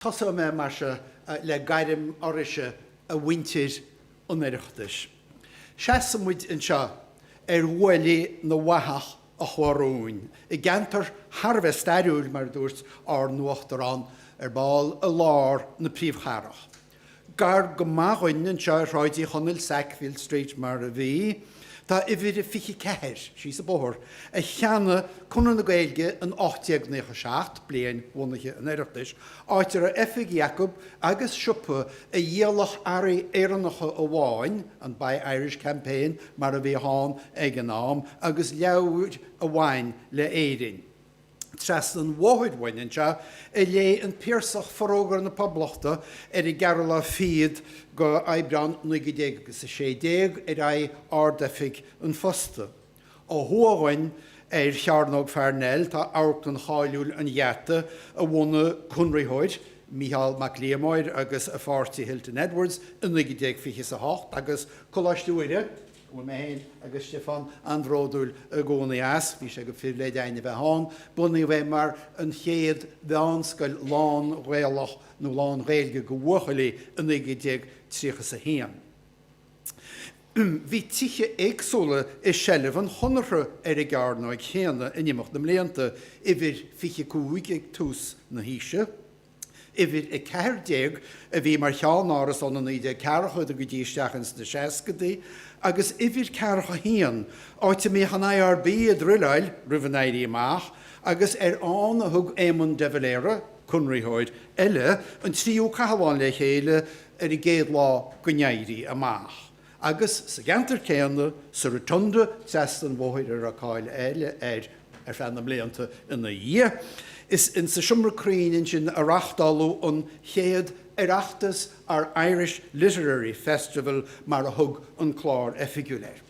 Tosóidh mé mar seo le gairm oraibhse a mhuintir an Oireachtais. Seasann muid anseo ar ghuaillí na bhfathach a chuaigh romhainn i gceantar thar a bheith stairiúil, mar a dúirt ár n-uachtarán, ar ball i lár na príomhchathrach. Gar go maith dhuinn anseo ar Shráid Uí Chonaill, Sackville Street mar a bhí, tá uimhir a 24, síos an bóthar, a cheannaigh Conradh na Gaeilge in 1897, bliain bhunaithe an Oireachtais, áit a raibh oifigí acu agus siopa a dhíolfadh earraí Éireannacha amháin, an Buy Irish Campaign mar a bhíodh ann ag an am, agus leabhair a bhain le Éirinn. Trasna an bhóthair uainn anseo a léigh an Piarsach Forógra na Poblachta ar an gceathrú lá fichead go Aibreán 1900 agus a sé déag ar aghaidh Ard-Oifig an Phosta. Ó thuaidh uainn ar Chearnóg Pharnell tá amharclann cháiliúil an Gheata a bhunaigh conraitheoir, Micheál Mac Liammóir agus a pháirtí Hilton Edwards i 1928 agus Coláiste Mhuire, Bhí mé féin agus Stiofán an-bhródúil i gcónaí as, bhí sé go phribhléid a'inn a bheith ann. Bunaíodh é mar an chéad mheánscoil lán-Ghaelach nó lán-Ghaeilge go bhuachaillí i 1931. Bhí tithe éagsúla i seilbh an Chonartha ar an gcearnóig chéanna in imeacht na mblianta, uimhir 25 ag tús na haoise, Uimhir 14 a bhí mar cheannáras ó na 1940idí go dtí isteach ins na 60idí agus uimhir ceathracha a haon, áit a mbíodh an IRB ag druileáil roimh an Éirí Amach agus ar ann a thug Éamon de Valera, Conraitheoir eile, an tríú cathlán le chéile ar an gcéad lá den Éirí Amach. Agus sa gceantar céanna, sa Rotunda, trasna an bhóthair a raibh cáil eile air ar feadh na mblianta ina dhiaidh, is insa Seomra Cruinn ansin a reáchtáladh an chéad Oireachtas, or Irish Literary Festival mar a thug an clár oifigiúil air.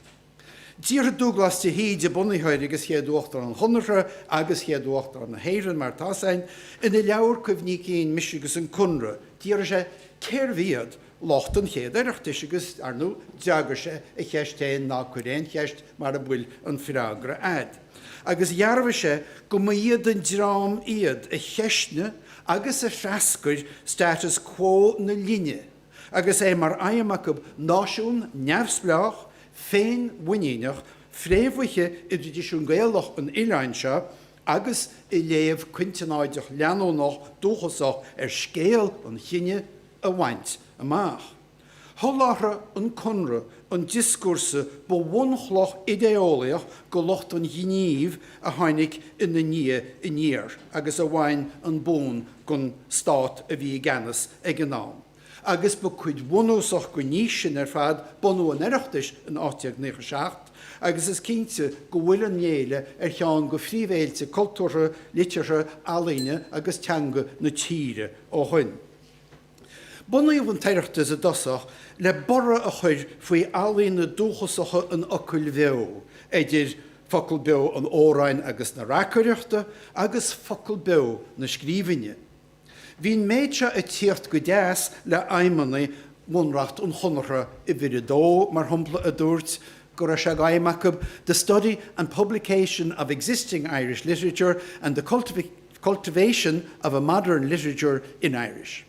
D'fhiafraigh Dúglás de hÍde, bunaitheoir agus chéad Uachtarán an Chonartha agus chéad Uachtarán na hÉireann mar atá's a'inn, ina leabhar cuimhní cinn Mise agus an Conradh, d'fhiafraigh sé cérbh iad lucht an chéad Oireachtais agus, ar ndú, d'fhreagair sé a cheist féin, Ná cuir aon cheist mara bhfuil an freagra a'd. Agus dhearbhaigh sé go mba iad an dream iad a cheisnigh agus a threascair status quo na linne agus é mar aidhm acu náisiún neamhspleách, féinmhuiníneach, fréamhaithe i dtraidisiún Gaelach an oileáin seo agus i léamh cointeannáideach leanúnach dúchasach ar scéal an chine, a bhaint amach. Sholáthraigh an Conradh an dioscúrsa ba bhunchloch idé-eolaíoch go lucht an ghnímh a tháinig ina ndiaidh aniar agus a bhain an bonn den stát a bhí i gceannas ag an am agus ba cuid bhunúsach den fhís sin ar fad bunú an Oireachtais in 1897 agus is cinnte go bhfuil an fhéile ar cheann de phríomhfhéilte cultúrtha, liteartha, ealaíne agus teanga na tíre ó shin. Bunaíodh an tOireachtas i dtosach le borradh a chuir faoi ealaíona dúchasacha an fhocail bheo, eidir focal beo an amhráin agus na reacaireachta agus focal beo na scríbhinne. Bhí an méid seo ag tíocht go deas le haidhmeanna bhunreacht an Chonartha, uimhir 2, mar shompla, a dúirt go raibh sé d'aidhm acu the study and publication of existing Irish literature and the cultivation cultivation of a modern literature in Irish'.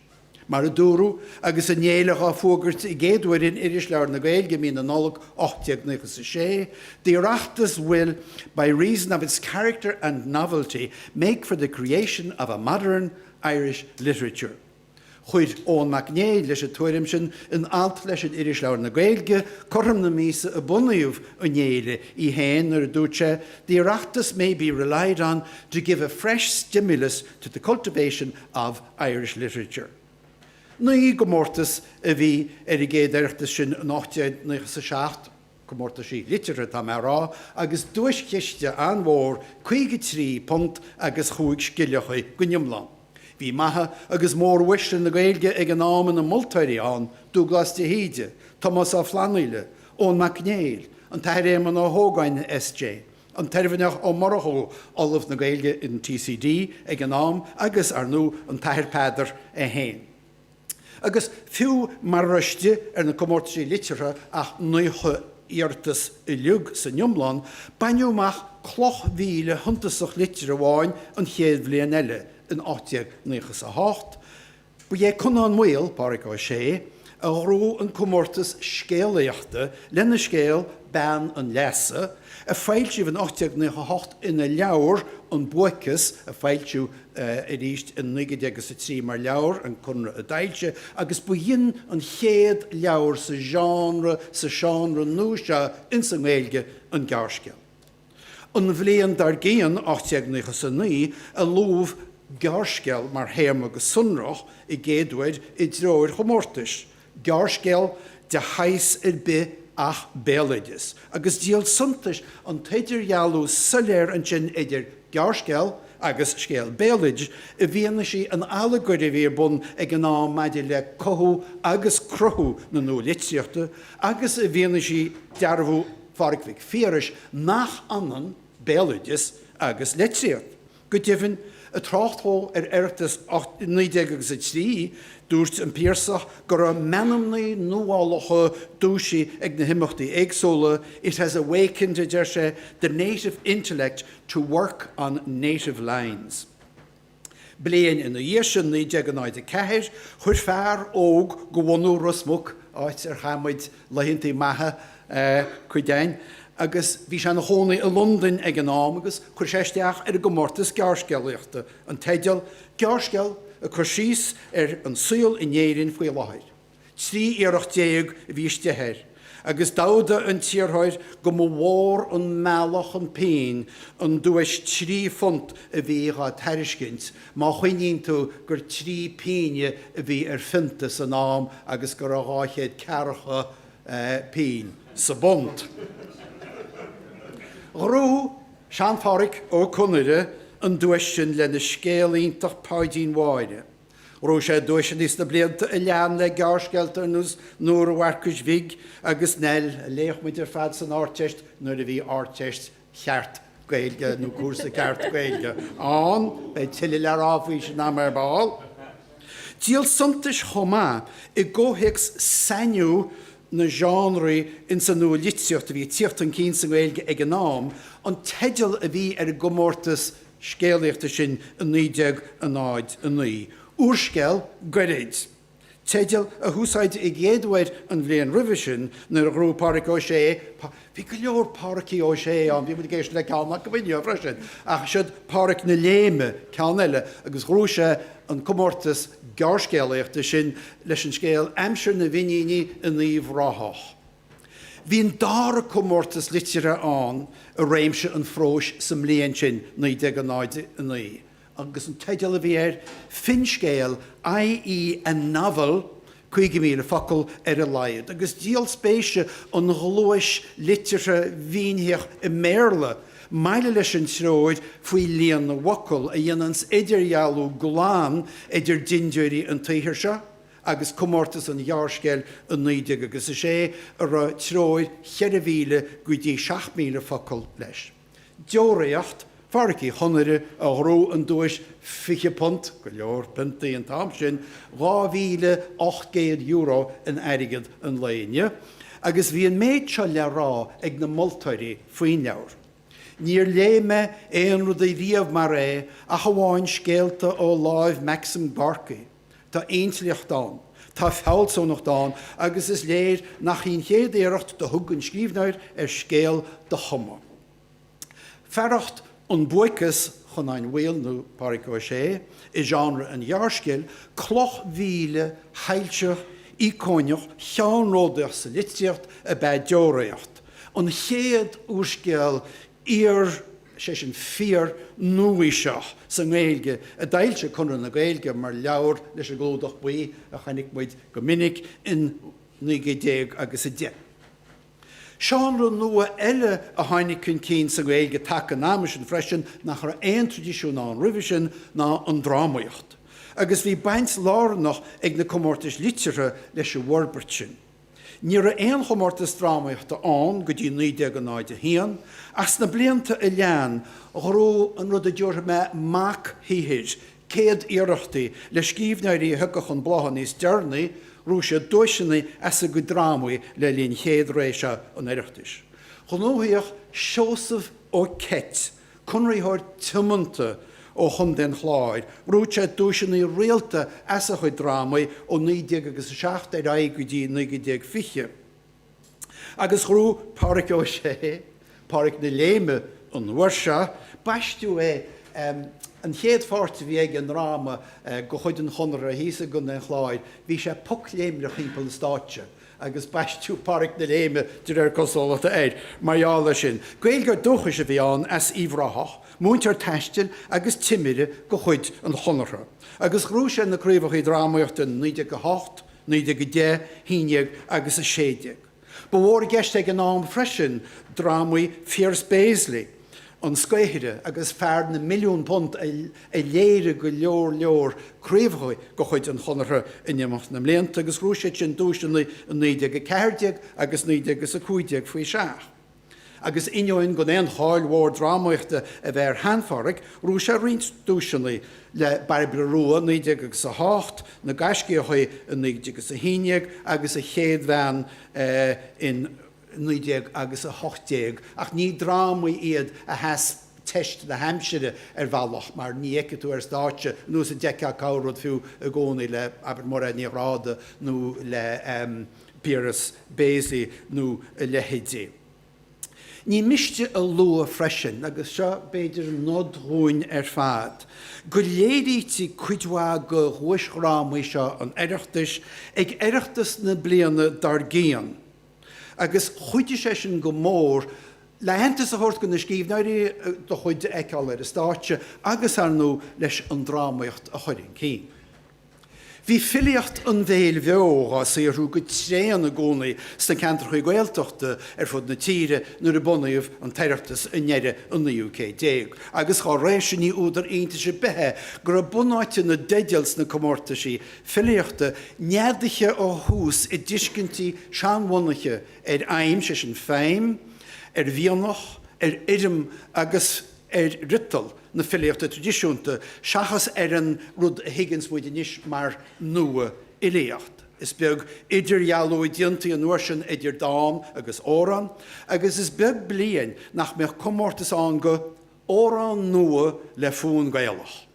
Mar a dúradh agus an fhéile dhá fuagairt i gcéaduair in Irisleabhar na Gaeilge mí na Nollag 1896, 'The Oireachtas will, by reason of its character and novelty, make for the creation of a modern Irish literature'. Chuir Eoin Mac Néill leis an tuairim sin in alt leis in Irisleabhar na Gaedhilge cothrom na míosa a bunaíodh an fhéile í féin nuair a dúirt sé, 'The Oireachtas may be relied on to give a fresh stimulus to the cultivation of Irish literature'. Naoi gcomórtas a bhí ar an gcéad Oireachtas sin in 1897. Comórtaisí liteartha atá mé a rá, agus duaischiste an-mhór, £53 agus chúig scilleacha go n-iomlán. Bhí maithe agus móruaisle na Gaeilge ag an am ina moltóirí ann, Dúghlas de hÍde, Tomás Ó Flannghaile, Eoin Mac Néill, an tAthair Éamonn Ó hÓgáin SJ, an tOirmhinneach Ó Murchú, Ollamh na Gaeilge in TCD ag an am, agus, ar ndú, an tAthair Peadar é féin. Agus fiú mara raibh istigh ar na comórtaisí liteartha ach naocha iarratas uilig san iomlán, baineadh amach cloch mhíle shuntasach liteartha amháin an chéad bhliain eile, in ocht déag naocha is a hocht. Ba é Conán Maol, Pádraig Ó Sé, a ghnóthaigh an comórtas scéalaíochta lena scéal 'Bean an Leasa', a foilsíodh in ocht déag naocha hocht ina leabhar An Buaiceas a foilsíodh arís i 1903 mar leabhar, an Conradh a d'fhoilsigh, agus b'in an chéad leabhar sa genre, sa seánra nua seo ins an nGaeilge, an gearrscéal. An bhliain dar gcionn, 1899, a luadh gearrscéal mar théarma go sonrach i gcéaduair i dtreoir chomórtais Gearrscéal de shaghas ar bith ach béaloideas, agus díol suntais an t-idirdhealú soiléir ansin idir gearrscéal agus scéal béaloidis, i bhfianaise an allagair a bhí ar bun ag an am maidir le cothú agus cruthú na nualitríochta, agus i bhfianaise dearbhú Phádraig Mhic Phiarais nach ionann béaloideas agus litríocht. Go deimhin, ag trácht dhó ar Oireachtas 1903, dúirt an Piarsach go raibh meanmnaí nuálacha dúisithe ag na himeachtaí éagsúla, It has awakened, a deir sé, the native intellect to work on native lines. Bliain ina dhiaidh sin, 1904, chuir fear óg de bhunadh Ros Muc, áit ar chaith muid laethanta maithe cuid againn agus bhí sé ina chónaí i Londain ag an am agus chuir sé isteach ar an gcomórtas gearrscéalaíochta an teideal 'Gearrscéal' ag cur síos ar an saol in Éirinn faoi láthair. Trí iarracht déag a bhí istigh air agus d'admhaigh an t-iarrthóir go mba mhór an mealladh chun pinn an duais trí phunt a bhí dhá tairiscint Má chuimhníonn tú gur trí pínne a bhí ar phionta san am agus go raibh dhá chéad ceathracha pínn sa bpunt. Ghnóthaigh Sean-Phádraic Ó Conaire an duais sin lena scéal iontach Páidín Mháire. Ghnóthaigh sé duaiseanna sna blianta a lean le gearrscéalta ar nós Nóra Mharcuis Bhig agus Neill, a léadh muid ar fad san Árdteist nuair a bhí Árdteist cheart Gaeilge nó cúrsa ceart Gaeilge ann. Beidh tuilleadh le rá faoi sin agam ar ball. Díol suntais chomh maith i gcomhthéacs sainiú na genre ins an nua-litríocht a bhí ag tíocht chun cinn sa nGaeilge ag an am, an teideal a bhí ar an gcomórtas scéalaíochta sin i 1909, Úrscéal goirid. teideal a húsáideadh i gcéad uair an bhliain roimhe sin nuair a ghnóthaigh Pádraig Ó Sé, bhí go leor Pádraicí Ó Sé ann, bhí muid ag éisteacht le ceann acu inné freisin, ach siod Pádraic na Léime ceann eile, agus ghnóthaigh sé an comórtas gearrscéalaíochta sin leis an scéal Aimsir na bhFíníní in Uíbh Ráthach. Bhí an dara comórtas liteartha ann i réimse an phróis sa mbliain sin, 1909. agus an teideal a bhí air, Finscéal, i.e. a novel, 50,000 focal ar a laghad, agus díol spéise an ghluais liteartha mhínitheach i mBéarla, maille leis an treoir faoi líon na bhfocal, a dhéananns idirdhealú glan idir dintiúirí an tsaothair seo agus comórtas an ghearrscéil i 1906, a raibh treoir 4,000 go dtí 7,000 focal leis. Deoraíocht, Phádraic Uí Chonaire a ghnóthaigh an duais £20, go leor piontaí an t-am sin, €2,800 in airgead an lae inniu, agus bhí an méid seo le rá ag na moltóirí faoin leabhar, Níor léigh mé aon rud ariamh mar é ach amháin scéalta ó láimh Maxim Gorky. Tá intleacht ann, tá fealsúnacht ann agus is léir nach í an chéad iarracht do thug an scríbhneoir ar scéal do chumadh. Fearacht An Buaiceas Chonáin Mhaoil nó Pádraig Ó Sé i genre an ghearrscéil, cloch mhíle shoilseach íocónach cheannródaíoch sa litríocht ab ea Deoraíocht, an chéad úrscéal Iar, sé sin fíor nua-aoiseach sa nGaeilge a d'fhoilsigh Conradh na Gaeilge mar leabhar leis an gclúdach buí a chonaic muid go minic in 1910. Seánra nua eile a tháinig chun cinn sa nGaeilge taca an ama sin freisin nach raibh aon traidisiún ann roimhe sin ná an drámaíocht, agus bhí baint lárnach ag na comórtais liteartha leis an bhforbairt sin. Ní raibh aon chomórtas drámaíochta ann go dtí 1901, ach sna blianta a lean ghnóthaigh an rud a dtabharfaidh mé mochshaothair céad iarrachtaí le scríbhneoirí a thiocfadh chun blátha níos deireanaí, ghnóthaigh siad duaiseanna as a gcuid drámaí le linn chéad ré seo an Oireachtais. Ghnóthaíodh Seosamh Ó Ceit conraitheoir tiomanta ó Chontae an Chláir, ghnóthaigh sé duaiseanna rialta as a chuid drámaí ó 1907 ar aghaidh go dtí 1920, agus ghnóthaigh Pádraic Ó Sé, Pádraic na Léime, an uair seo. Baisteadh é, an chéad pháirt a bhí aige i ndráma de chuid an Chonartha thíos i gContae an Chláir, bhí sé pocléimneach thimpeall na stáitse, agus baisteadh 'Pádhraic na Léime' de réir cosúlachta air mar gheall air sin. Gaeilgeoir dúchais a bhí ann as Uíbh Ráthach, múinteoir taistil agus timire de chuid an Chonartha, agus ghnóthaigh sé na craobhachaí drámaíochta in 1908, 1910, 11 agus 16. Ba mhór i gceist ag an am freisin drámaí Phiers Béaslaí. An Scaothaire agus Fear na Milliún Punt a léirigh go leor leor craobhacha de chuid an Chonartha in imeacht na mblianta agus ghnóthaigh siad sin duaiseanna i 1914 agus 1915 faoi seach. Agus ainneoin gan aon cháil mhór drámaíochta a bheith ar Shean-Phádraic, ghnóthaigh sé roinnt duaiseanna, le Bairbre Rua i 1908, Na Gaiscíochaí i 1911 agus A Chéad Bhean in 19 agus 18, ach ní drámaí iad a sheas teist na haimsire ar bhealach mar ní fheicfidh tú ar stáitse anois iad ach corr-rud fiú i gcónaí le, abair, Máiréad Ní Ghráda nó le Piaras Béaslaí nó a leithéidí. Ní miste a lua freisin, agus seo b'fhéidir nod dhúinn ar fad, go léirítí cuid mhaith de dhuaisdhrámaí seo an Oireachtais ag Oireachtas na bliana dár gcionn, agus chuidigh sé sin go mór le haitheantas a thabhairt do na scríbhneoirí do chuid a fheiceáil ar an stáitse agus, ar ndóigh, leis an drámaíocht a chur chun cinn. Bhí filíocht an bhéil bheo dhá saothrú go tréan i gcónaí sna ceantracha Gaeltachta ar fud na tíre nuair a bunaíodh an tOireachtas i ndeireadh an naoú céad déag agus dá réir sin ní údar iontais ar bith é go raibh bunáite na dteideal sna comórtaisí filíochta neadaithe ó thús i dtuiscintí seanbhunaithe ar fheidhm, sé sin feidhm, ar mhianach, ar fhoirm agus ar fhriotal na filíochta traidisiúnta seachas ar an rud a thuigeanns muid anois mar nua-fhilíocht. Is beag idirdhealú a dhéantaí an uair sin idir dán agus amhrán agus is beag bliain nach mbeadh comórtas ann go 'Amhrán Nua le Fonn Gaelach'.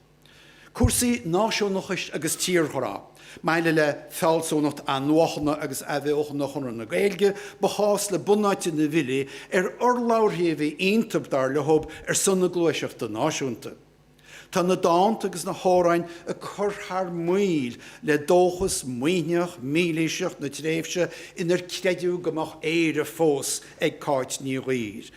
Cúrsaí náisiúnachais agus tírghrá, maille le fealsúnacht athnuachana agus athbheochana Chonradh na Gaeilge, ba chás le bunáite na bhfilí ar urlabhraithe a bhí iontub, dar leo, ar son na gluaiseachta náisiúnta. Tá na dánta agus na hamhráin ag cur thar maoil le dóchas maoithneach, mílaoiseach na tréimhse inar creideadh go mbeadh Éire fós ag Cáit Ní Dhuibhir,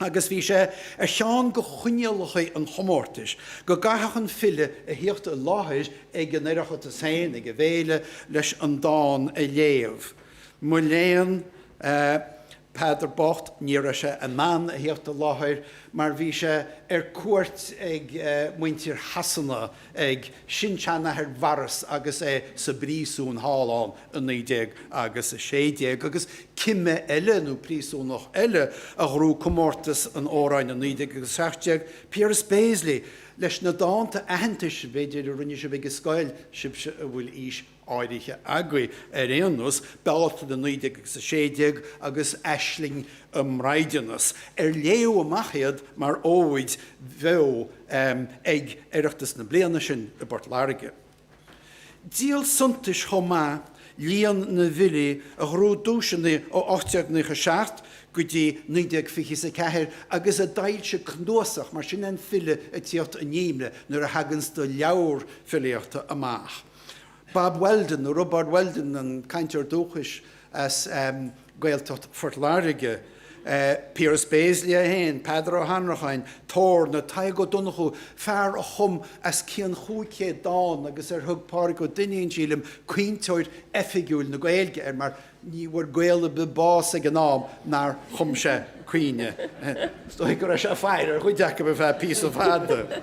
agus bhí sé ar cheann de choinníollacha an chomórtais go gcaithfeadh an file a thíocht i láthair ag an Oireachtas féin, ag an bhféile, leis an dán a léamh. Mo léan, Peadar bocht, ní raibh sé in ann a thíocht i láthair mar bhí sé ar cuairt ag muintir Shasana, ag sin-seanathair Bhoris agus é sa bpríosún thall ann i naoi déag agus a sé déag, agus cime eile nó príosúnach eile a ghnóthaigh comórtas an amhráin i naoi déag agus a seacht déag, Piaras Béaslaí, leis na dánta aitheantais, b'fhéidir, a rinne sibh ag an scoil, sibhse a bhfuil aois áirithe agaibh ar aon nós, Bealtaine 19 agus 16 agus Aisling i mbraighdeanas, ar léadh amach iad mar óid bheo ag Oireachtas na bliana sin i bPort Láirge. Díol suntais chomh maith líon na bhfilí a ghnóthaigh duaiseanna ó 1897 go dtí 1924 agus a d'fhoilsigh cnuasach mar sin an file ag tíocht in inmhe nuair a thaganns do leabhar filíochta amach. Bob Weldon, nó Roibeárd Weldon, an cainteoir dúchais as Gaeltacht Phort Láirge, Piaras Béaslaí é féin, Peadar Ó hAnnracháin, Torna, Tadhg Ó Donnchú, fear a chum as cionn chúig chéad dán agus ar thug Pádraig Ó Duinnín, sílim, 'caointeoir oifigiúil na Gaeilge' air, mar Ní bhfuair Gael ar bith bás ag an am nár chum sé caoineadh. Is dóigh go raibh sé ag faire ar chuid acu ar feadh píosa fada.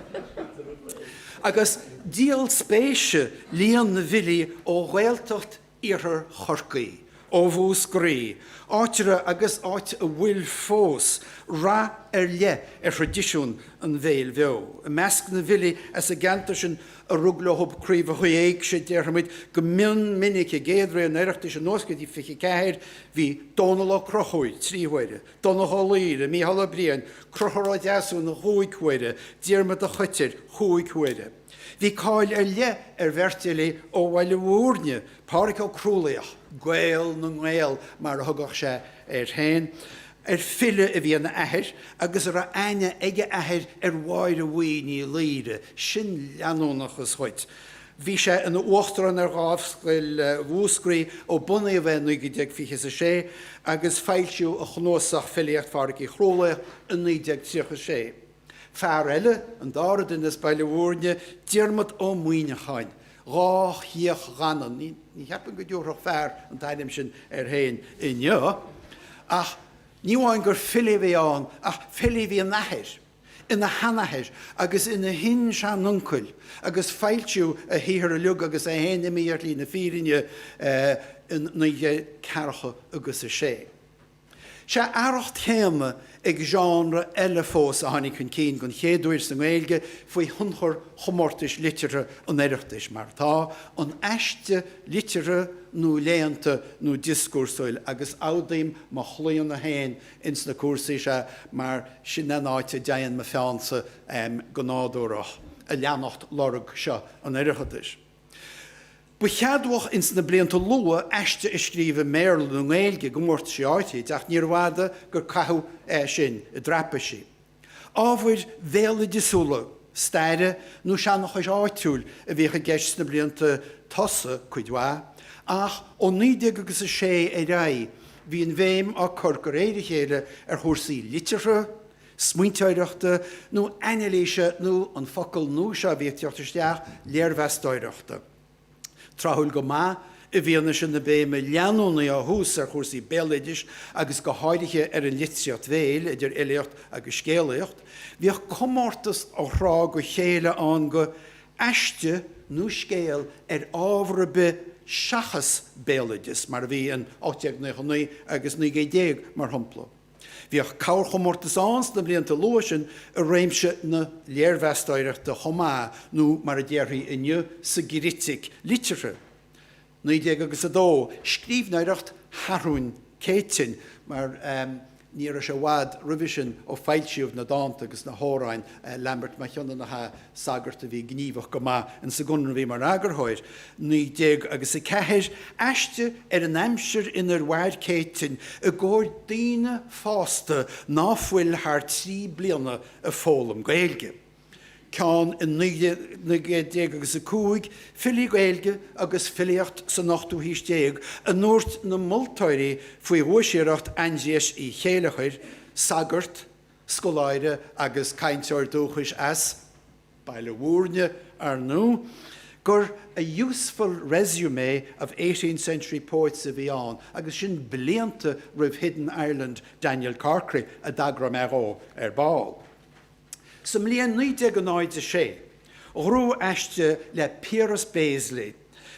Agus díol spéise líon na bhfilí ó Ghaeltacht Iarthar Chorcaí, ó Mhúscraí, áit a raibh agus áit a bhfuil fós rath ar leith ar thraidisiún an bhéil bheo. I measc na bhfilí as an gceantar sin a rug leo Craobh na hÉigse, déarfaimid, go mion minic i gcéad ré an Oireachtais anuas go dtí 24, bhí Dónal Ó Conchúir, trí huaire, Donncha Ó Laoire, Mícheál Ó Briain, Conchúr Ó Deasúna, chúig huaire, Diarmaid a' Choitir, chúig huaire. Bhí cáil ar leith ar bheirt fhilí ó Bhaile Mhúirne, Pádraic Ó Crualaoich, Gael na nGael mar a thugadh sé air féin, ar file a bhí ina athair agus a raibh aithne ag a athair ar Mháire Bhuí Ní Laoire, sin leanúnachas dhuit! Bhí sé ina uachtarán ar Dhámhscoil Mhúscraí ó bunaíodh í 1926 agus foilsíodh a chnuasach Filíocht Phádraic Uí Chrualaoich i 1936. Fear eile, an dara duine as Baile Mhúirne, Diarmaid Ó Muíneacháin, Dhá Chíoch Dhanann, ní cheapaim go dtabharfadh fear an t-ainm sin air féin inniu, ach ní amháin gur file a bhí ann ach file a bhí ina athair, ina sheanathair agus ina shin-seanuncail agus foilsíodh a shaothar uilig agus é féin imithe ar shlí na fírinne in naoi gcéad ceathracha agus a sé. Sé a fhearacht chéanna ag genre eile fós a tháinig chun cinn den chéad uair sa nGaeilge faoi thionchar chomórtais liteartha an Oireachtais, mar atá, an aiste liteartha nó léannta nó dioscúrsúil, agus admhaím mo chlaonadh féin ins na cúrsaí seo mar sin an áit a dtéann mo pheannsa go nádúrach, ag leanacht lorg seo an Oireachtais. Ba cheadmhach ins na blianta luath aiste a scríobh i mBéarla nó i nGaeilge i gcomórtaisí áirid ach níorbh fhada gur caitheadh é sin i dtraipisí. Ábhair bhéaloideasúla, staire nó seanchais áitiúil a bhíodh i gceist sna blianta tosaigh cuid mhaith ach ó naoi déag agus a sé ar aghaidh bhí an bhéim á cur go réir a chéile ar chúrsaí liteartha, smaointeoireachta nó ainilíse nó an focal nua seo a bhí ag teacht isteach, léirmheastóireachta. Tráthúil go maith, i bhfianaise na béime leanúnaí ó thús ar chúrsaí béaloidis agus go háirithe ar an litríocht bhéil, idir fhilíocht agus scéalaíocht, bhíodh comórtas ó thráth go chéile ann do aiste nó scéal ar ábhar ar bith seachas béaloideas, mar a bhí in 1899 agus 1900, mar shampla. Bhíodh corrchomórtas ann sna blianta luatha sin i réimse na léirmheastóireachta chomh maith nó mar a déarfaí inniu sa gcritic liteartha, 1900 agus 2, scríbhneoireacht Sheathrúin Céitinn, mar ní raibh sé i bhfad roimhe sin ó foilsíodh na dánta agus na hamhráin, Lambert Mac Cionnaith, an sagart a bhí gníomhach go maith in sa gConradh a bhí mar eagarthóir, 19 agus 4, aiste ar an aimsir in ar mhair Céitinn i gcomhair daoine fásta ná fuil thar trí bliana ag foghlaim Gaeilge. ceann in 19 agus 5, Filí Gaeilge agus filíocht san ochtú haois déag a ndúirt na moltóirí faoi dhuais-iarracht Aindriais Uí Chéilleachair, sagart, scoláire agus cainteoir dúchais as Baile Mhúirne, ar ndú, gur 'a useful resume of eighteenth century poets' a bhí ann agus sin blianta roimh Hidden Ireland Daniel Corkery a dtagróidh mé dhó ar ball. Sa mbliain 1906, ghnóthaigh aiste le Piaras Béaslaí,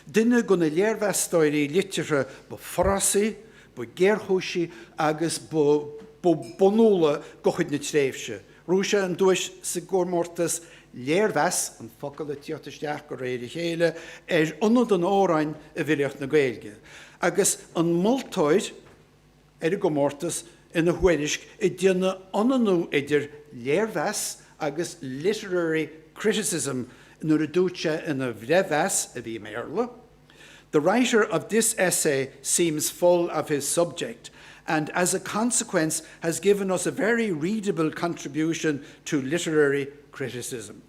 Duine de na léirmheastóirí liteartha ba forásaí, ba ghéarchúisí agus ba bhunúla de chuid na tréimhse. Ghnóthaigh sé an duais sa gcomórtas 'Léirmheas', an focal ag tíocht isteach de réir a chéile, ar Ionad an Amhráin i bhfilíocht na Gaeilge. Agus an moltóir, ar an gcomórtas ina thuairisc ag déanamh ionannú idir léirmheas agus literary criticism nuair a dúirt sé ina bhreithmheas, a bhí i mBéarla, 'The writer of this essay seems full of his subject and as a consequence has given us a very readable contribution to literary criticism'.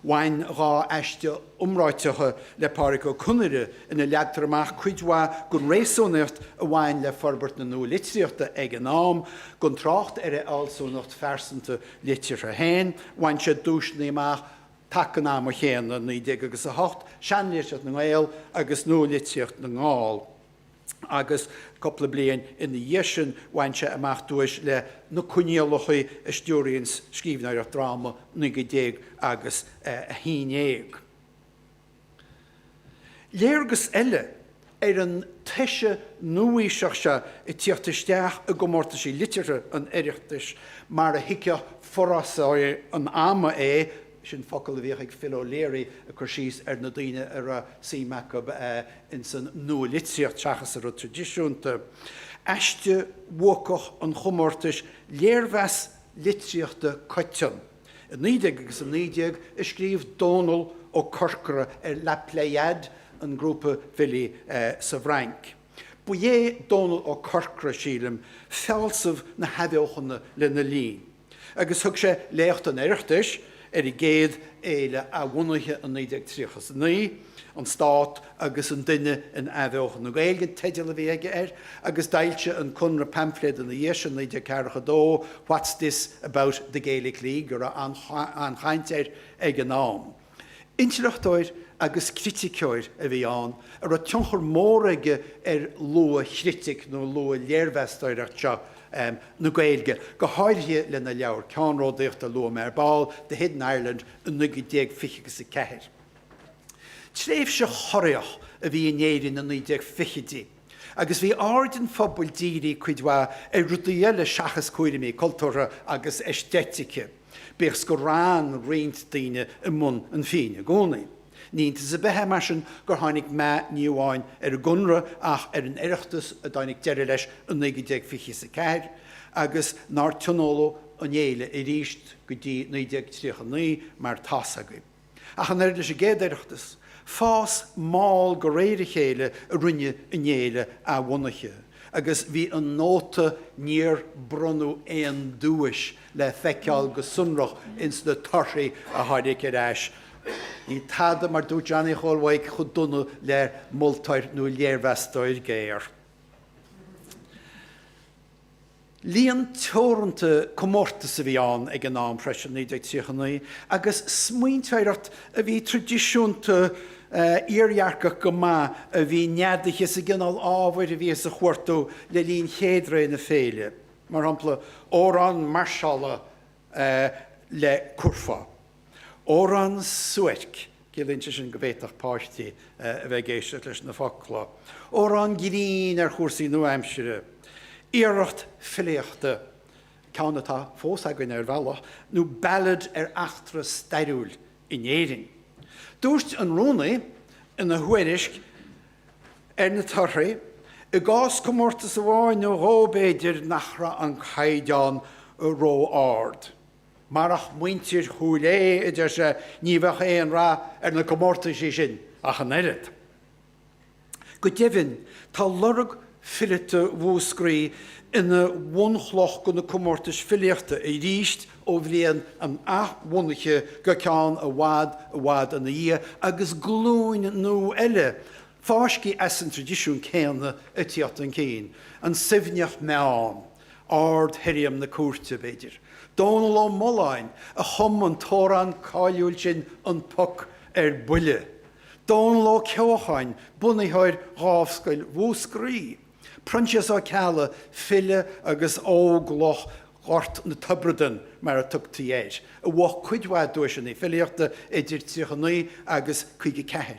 Bhain dhá aiste iomráiteacha le Pádraig Ó Conaire ina leagtar amach cuid mhaith den réasúnaíocht a bhain le forbairt na nualitríochta ag an am. Gan trácht ar a fhealsúnacht phearsanta liteartha féin, bhain siad duaiseanna amach taca an ama chéanna, 1908, Seanlitríocht na nGael agus Nualitríocht na nGall. agus cúpla bliain ina dhiaidh sin bhain sé amach duais le Na Coinníollacha a stiúraíonn scríbhneoireacht dráma naoi gcéad déag agus a haon dhéag. Léargas eile ar an toise nua-aoiseach seo ag tíocht isteach i gcomórtaisí liteartha an Oireachtais mar a thuigfeadh forásóirí an ama é, sin focal a bhíodh ag Phil O'Leary ag cur síos ar na daoine a raibh suim acu ins an nua-litríocht seachas an rud traidisiúnta. Aiste bhuacach an chomórtais Léirmheas Litríochta Coiteann i 19 agus a 19 a scríobh Dónal Ó Corcora ar La Pléiade, an grúpa filí sa bhFrainc. Ba é Dónal Ó Corcora, sílim, fealsamh na hathbheochana lena linn. agus thug sé Léacht an Oireachtais ar an gcéad fhéile athbhunaithe in 1939, An Stát agus an Duine in Athbheochan na Gaeilge an teideal a bhí aige air, agus d'fhoilsigh an Conradh paimfléad ina dhiaidh sin, 1942, What's This about the Gaelic League, a raibh an-chaint air ag an am. Intleachtóir agus criticeoir a bhí ann a raibh tionchar mór aige ar luath-chritic nó luath-léirmheastóireacht seo na Gaeilge, go háirithe lena leabhar ceannródaíochta a luaigh mé ar ball, The Hidden Ireland, in 1920 agus a 4. Tréimhse chorraitheach a bhí in Éirinn na 1920idí agus bhí aird an phobail dírithe cuid mhaith ar rudaí eile seachas cúraimí cultúrtha agus aeistéitice. Bíodh is gur fhan roinnt daoine i mbun an phinn i gcónaí, ní iontas ar bith é mar sin gur tháinig meath ní amháin ar an gConradh ach ar an Oireachtas a dtáinig deireadh leis i 1920 is a ceathair agus nár tionóladh an fhéile arís go dtí 1939 mar tá's agaibh. Ach an oiread leis an gcéad Oireachtas, fás mall go réir a chéile a rinne an fhéile athbhunaithe agus bhí an nóta 'níor bronnadh aon duais' le feiceáil go sonrach ins na torthaí a tháinig ar ais. Níl tada, mar dúirt Johnny Chóil Mhaidhc chomh dona le moltóir nó léirmheastóir géar. Líon teoranta comórtas a bhí ann ag an am freisin, 1939, agus smaointeoireacht a bhí traidisiúnta iardhearcach go maith a bhí neadaithe sa gcineál ábhair a bhíothas a chuartú le linn chéad ré na féile, mar shampla, amhrán mairseála le curfá. Amhrán suairc, ciallaíonn sé sin go bhféadfadh páistí a bheith ag éisteacht leis na focla. Amhrán grinn ar chúrsaí nua-aimsire. Iarracht filíochta, ceann atá fós againn ar bhealach, nó ballad ar eachtra stairiúil in Éirinn. Dúirt an rúnaí ina thuairisc ar na torthaí, I gcás comórtas amháin nó dhó b'fhéidir nach raibh an caighdeán ró-ard. Marach muintir Chúil Aodha, a deir sé, ní bheadh aon rath ar na comórtaisí sin ach an oiread. Go deimhin, tá lorg filíochta Mhúscraí ina bhunchloch de na comórtais filíochta arís ó bhliain an athbhunaithe go ceann i bhfad i bhfad ina dhiaidh agus glúin nua eile fáiscthe as an tradisiún céanna ag tíocht chun cinn. An Suibhneach Meann. Ard shirriam na cúirte, b'fhéidir, Dónal Ó Mulláin a chum an t-amhrán cáiliúil sin An Poc ar Buile, Dónal Ó Ceocháin, bunaitheoir Dhámhscoil Mhúscraí, Proinsias Ó Ceallaigh, file agus Óglach Ghort na Tiobratan mar a tugtaí air, a bhuaigh cuid mhaith duaiseanna filíochta idir 39 agus 54,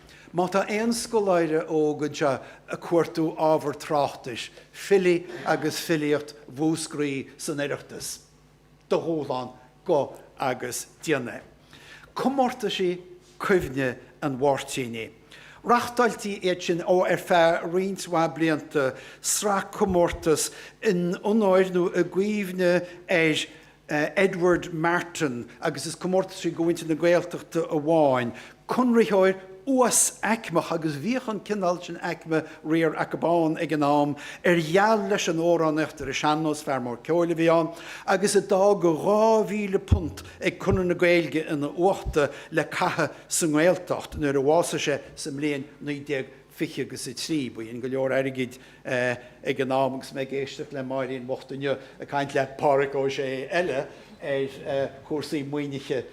Má tá aon scoláire óg atá ag cuartú ábhar tráchtais, filí agus filíocht Mhúscraí san Oireachtas, do dhúshlán, gabh agus déan é. Comórtaisí Cuimhne an Mháirtínigh. Reachtáiltí iad sin ó ar feadh roinnt mhaith blianta, sraith comórtas in onóir nó i gcuimhne ar Edward Martyn agus is comórtaisí do mhuintir na Gaeltachta amháin, conraitheoir uas-aicmeach agus bhíodh an cineál sin aicme riar acu ann ag an am ar gheal leis an amhránaíocht ar an sean-nós, fear mór ceoil a bhí ann agus a d'fhág £2,000 ag Conradh na Gaeilge ina uachta le caitheamh sa nGaeltacht nuair a bhásaigh sé sa mbliain 19. 20 agus a 3. B'in go leor airgid ag an am agus mé ag éisteacht le Máirín bhocht inniu ag caint le Pádraig Ó Sé eile ar chúrsaí maoinithe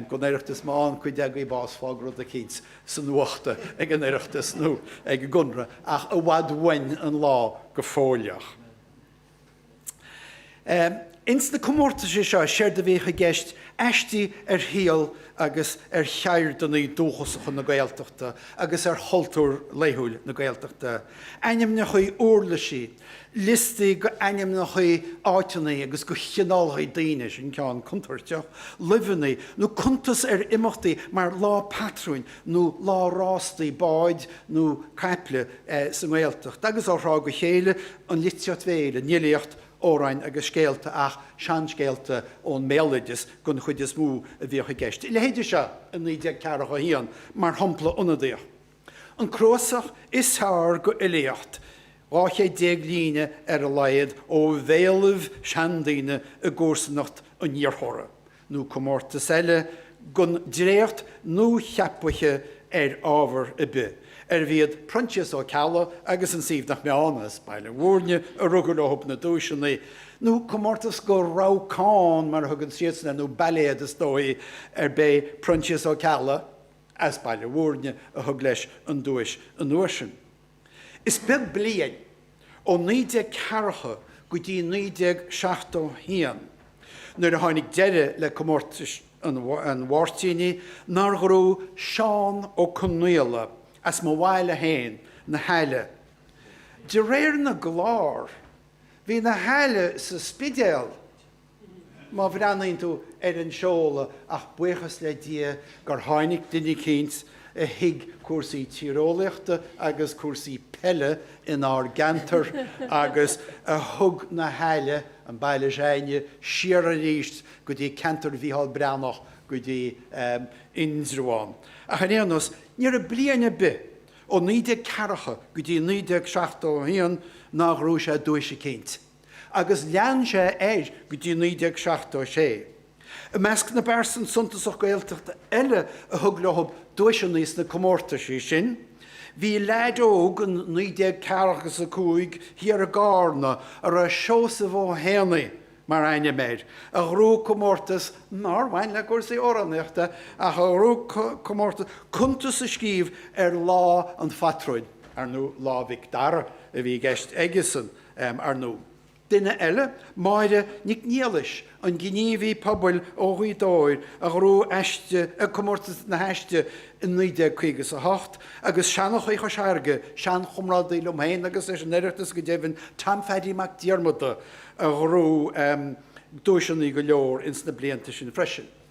don Oireachtas má fhaigheann cuid agaibh bás fág rud eicínt san uachta ag an Oireachtas nó ag an gConradh ach i bhfad uainn an lá go fóilleach. Ins na comórtaisí seo séard a bhíodh i gceist aisti ar shaol agus ar cheirdeanna dúchasacha na Gaeltachta agus ar chultúr laethúil na Gaeltachta, ainmneacha úirlisí, liostaí go ainmneacha áiteanna agus go chineálacha daoine, sin ceann contúirteach, luibheanna, nó cuntas ar imeachtaí mar Lá Patrúin nó Lá Rástaí Báid nó Caiple sa nGaeltacht agus ó thráth go chéile. an litríocht bhéil, an fhilíocht, amhráin agus scéalta ach seanscéalta ón mbéaloideas den chuid is mó a bhíodh i gceist. A leithéide seo i 1941, mar shampla ionadaíoch, 'An cnuasach is fearr de fhilíocht, dhá chéad déag líne ar a laghad ó bhéalaibh seandaoine i gcomharsanacht an iarrthóra, nó comórtas eile don dréacht nuacheapaithe ar ábhar ar bith, arbh iad Proinsias Ó Ceallaigh agus An Suibhneach Meann as Baile Mhúirne a rug leo na duaiseanna, nó comórtas do rabhcán, mar a thugann siadsan air, nó bailéad is dóigh, ar b'é Proinsias Ó Ceallaigh as Baile Mhúirne a thug leis an duais an uair sin. Is beag bliain, ó 1940 go dtí 1971 nuair a tháinig deireadh le comórtais an Mháirtínigh, nár ghnóthaigh Seán Ó Conghaile as mo bhaile féin, Na hAille. De réir na gclár, bhí Na hAille sa Spidéal. Má bhreathnaíonn tú ar an seoladh, ach buíochas le Dia gur tháinig duine eicínt a thuig cúrsaí tíreolaíochta agus cúrsaí peile in ár gceantar agus a thug na hAille, an baile s'againne, siar aríst go dtí ceantar Mhícheál Breathnach, go dtí Indreabhán. Ach ar aon nós, ní raibh bliain ar bith ó 1940 go dtí 1971 nár ghnóthaigh sé duais eicínt. agus lean sé air go dtí 1976. I measc na bpearsan suntasach Gaeltachta eile a thug leo duaiseanna sna comórtaisí sin bhí leaid óg in 1945 thiar i gCárna a raibh Seosamh Ó hÉanaigh mar ainm air a ghnóthaigh comórtas nár bhain le cúrsaí amhránaíochta ach a ghnóthaigh comórtas cuntas a scríobh ar lá an phatrúin, ar ndú Lá Mhic Dara a bhí i gceist aigesan. Ar ndóigh, duine eile, Máire Nic Niallais, an gníomhaí pobail ó Ghaoth Dobhair a ghnóthaigh aiste ag Comórtas na hAiste in 1958 agus seanchaí Chois Fharraige, seanchomrádaí liom féin agus leis an Oireachtas go deimhin, Tom Pheaidí Mac Diarmada, a ghnóthaigh duaiseanna go leor ins na blianta sin freisin.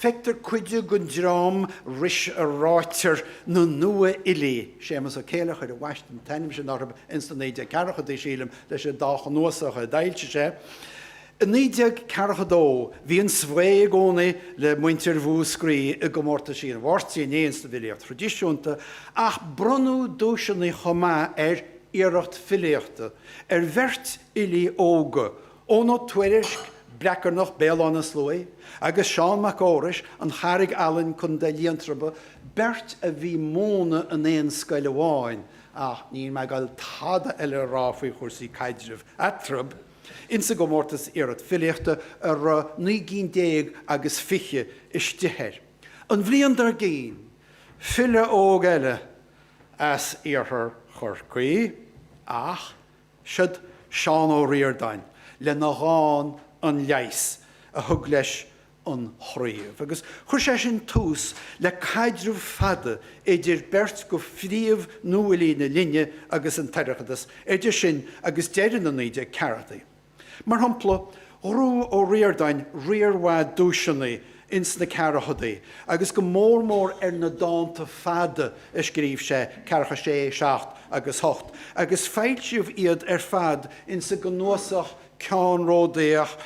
Feictear cuid den dream ris a ráitear na Nua-Fhilí. Séamas Ó Céileachair a bhaist an t-ainm sin orthu ins na 1940idí, sílim, leis an dá chnuasach a d'fhoilsigh sé. I 1942 bhí an svae i gcónaí le muintir Mhúscraí i gcomórtaisí an Mháirtínigh ins an bhfilíocht thraidisiúnta, ach bronnadh duaiseanna chomh maith ar iarracht filíochta ar bheirt fhilí óga, Eoghan Ó Tuairisc, Breacarnach, Béal Átha na Sluaí, agus Seán Mac Fheorais, An Charraig Álainn, Co Liatroma, beirt a bhí ag múineadh in aon scoil amháin, ach níl mé ag dul tada eile a rá faoi chúrsaí caidrimh eatarthu, insa gcomórtas iarracht filíochta a raibh naoi gcinn déag agus fiche istigh air an bhliain dár gcinn, file óg eile as iarthar Chorcaí, ach. Siod Seán Ó Ríordáin lena dhán 'An Leigheas' a thug leis an chraobh agus chuir sé sin tús le caidreamh fada idir beirt de phríomh-nuafhilí na linne agus an tOireachtas idir sin agus deireadh na 1940idí. Mar shampla, ghnóthaigh Ó Ríordáin riar mhaith duaiseanna ins na ceathrachadaí agus go mór mór ar na dánta fada a scríobh sé, Ceathracha Sé, Seacht agus Ocht, agus foilsíodh iad ar fad ins an gcnuasach ceannródaíoch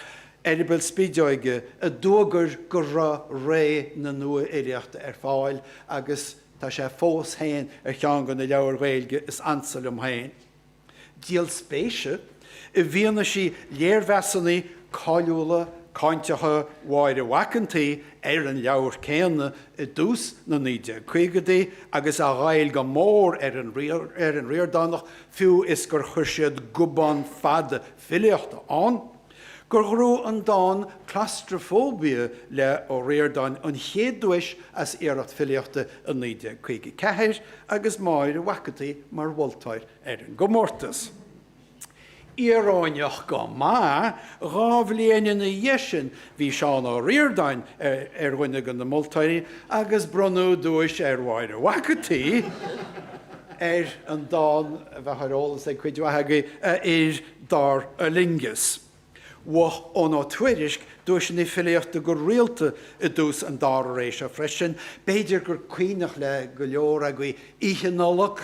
Eireaball Spideoige a d'fhuagair go raibh ré na nuafhilíochta ar fáil agus tá sé fós féin ar cheann de na leabhair Ghaeilge is ansa liom féin. Díol spéise, i bhfianaise léirmheasanna cáiliúla, cáinteacha Mháire Mhac an tSaoi ar an leabhar céanna i dtús na 1950idí agus a ghoill go mór ar an Ríordánach, fiú is gur chuir siad gobán fada filíochta ann, gur ghnóthaigh an dán 'Claustrophobia' le Ó Ríordáin an chéad duais as iarracht filíochta i 1954 agus Máire Mhac an tSaoi mar mholtóir ar an gcomórtas. Íoróineach go maith, dhá bhliain ina dhiaidh sin bhí Seán Ó Ríordáin ar dhuine de na moltóirí agus bronnadh duais ar Mháire Mhac an tSaoi ar an dán a bheadh ar eolas ag cuid mhaith agaibh, a Fhir dar Fhulaingeas. Bhuaigh Eoghan Ó Tuairisc duaiseanna filíochta go rialta i dtús an dara ré seo freisin, b'fhéidir gur cuimhneach le go leor agaibh Oíche Nollag,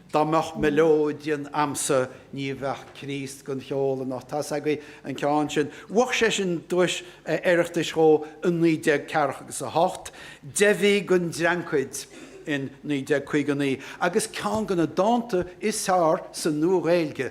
Dá mBeadh Melodeon A'msa Ní Bheadh Críost Gan Cheol Anocht, tá's agaibh an ceann sin. Bhuaigh sé sin duais Oireachtais dhó i naoi déag ceathracha agus a hocht, Deich Mhí Gan Dreancaid in naoi déag caoga a naoi, agus ceann de na dánta is fearr sa Nua-Ghaeilge,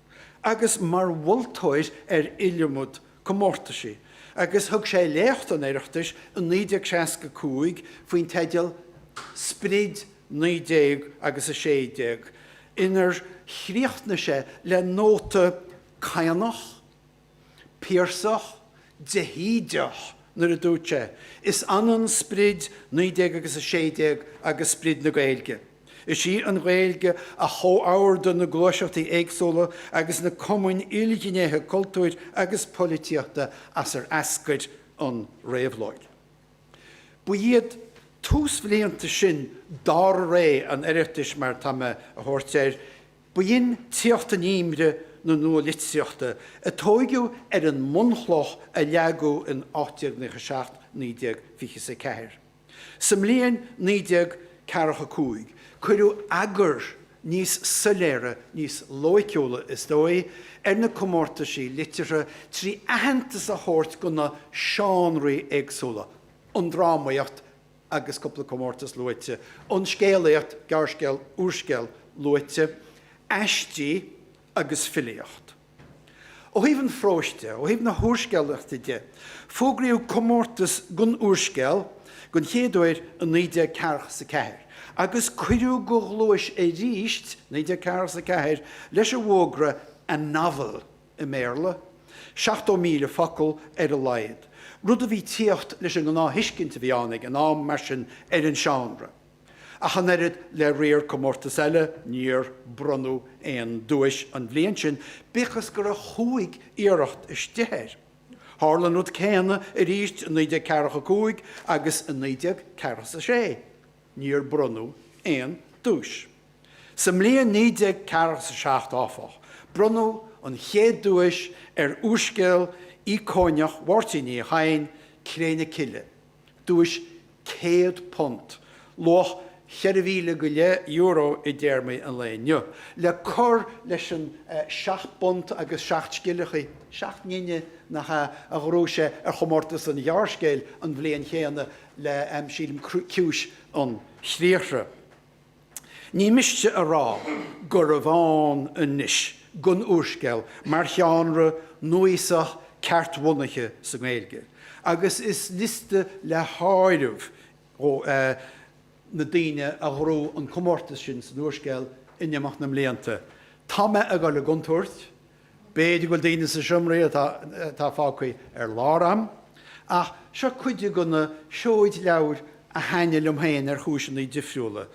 agus mar mholtóir ar iliomad comórtaisí agus thug sé léacht an Oireachtais i 1965 faoin teideal 'Sprid 19 agus 16 inar chríochnaigh sé le nóta cianach, Piarsach, de hÍde-ach nuair a dúirt sé, Is ionann sprid 19 agus a 16 agus sprid na Gaeilge. Is í an Ghaeilge a chomhordaigh na gluaiseachtaí éagsúla agus na cumainn ilghnéithe cultúir agus polaitíochta as ar eascair an réabhlóid. Ba iad túsbhlianta sin dara ré an Oireachtais, mar atá mé a thabhairt air, B'in tíocht in inmhe na nua-litríochta, a tóigeadh ar an mbunchloch a leagadh in 1897 1924. Sa mbliain 1945 cuireadh eagar níos soiléire, níos loighciúla, is dóigh, ar na comórtaisí liteartha trí aitheantas a thabhairt do na seánraí éagsúla, an drámaíocht, agus cúpla comórtas luaite, an scéalaíocht, gearrscéal, úrscéal luaite, aistí agus filíocht. Ó thaobh an phróis de, ó thaobh na húrscéalaíochta de, fógraíodh comórtas don úrscéal den chéad uair i 1944 agus cuireadh de ghluais arís 1944 leis an bhfógra 'A Novel'. i mBéarla, 70,000 focal ar a laghad, rud a bhí tíocht leis an ngnáth-thuiscint a bhí ann ag an am, mar sin, ar an seánra. Ach an oiread le riar comórtas eile, níor bronnadh aon duais an bhliain sin, bíodh is go raibh chúig iarracht istigh air. Tharla an rud céanna arís i 1945 agus i 1946, níor bronnadh aon duais. Sa mbliain 1947, áfach, bronnadh an chéad duais ar úrscéal ícóineach Mháirtín Uí Chadhain, Cré na Cille, duais £100, luach cheithre mhíle go leith euro i dtéarmaí an lae inniu, le cur leis an seacht bpunt agus seacht scilleacha, seacht ngine, nach ea, a ghnóthaigh sé ar chomórtas an ghearrscéil an bhliain chéanna le, sílim, Ciumhais an Chriathraigh. Ní miste a rá gurbh ann anois don úrscéal mar sheánra núíosach ceart-bhunaithe sa nGaeilge agus is liosta le háireamh na daoine a ghnóthaigh an comórtas sin san úrscéal in imeacht na mblianta. Tá mé ag goil i gcontúirt B'fhéidir go bhfuil daoine sa seomra atá fágtha ar lár a'm, ach seo cuid de na seoid leabhair a thaitnigh liom féin ar chúiseanna difriúla.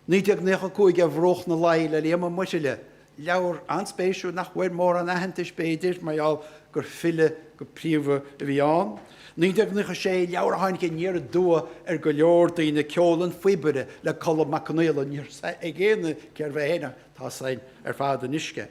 1995 Ar Bhruach na Laoi le Liam Ó Muirthile, leabhar an-spéisiúil nach bhfuair mórán aitheantais b'fhéidir mar gheall gur file go príomha a bhí ann. 1996 Leabhar a tháinig aniar aduaidh ar go leor daoine, Ceol an Phíobaire le Colm Mac Confhaola, ní raibh a fhios ag aoinne cérbh é féin ach tá a fhios a'inn ar fad anois cé.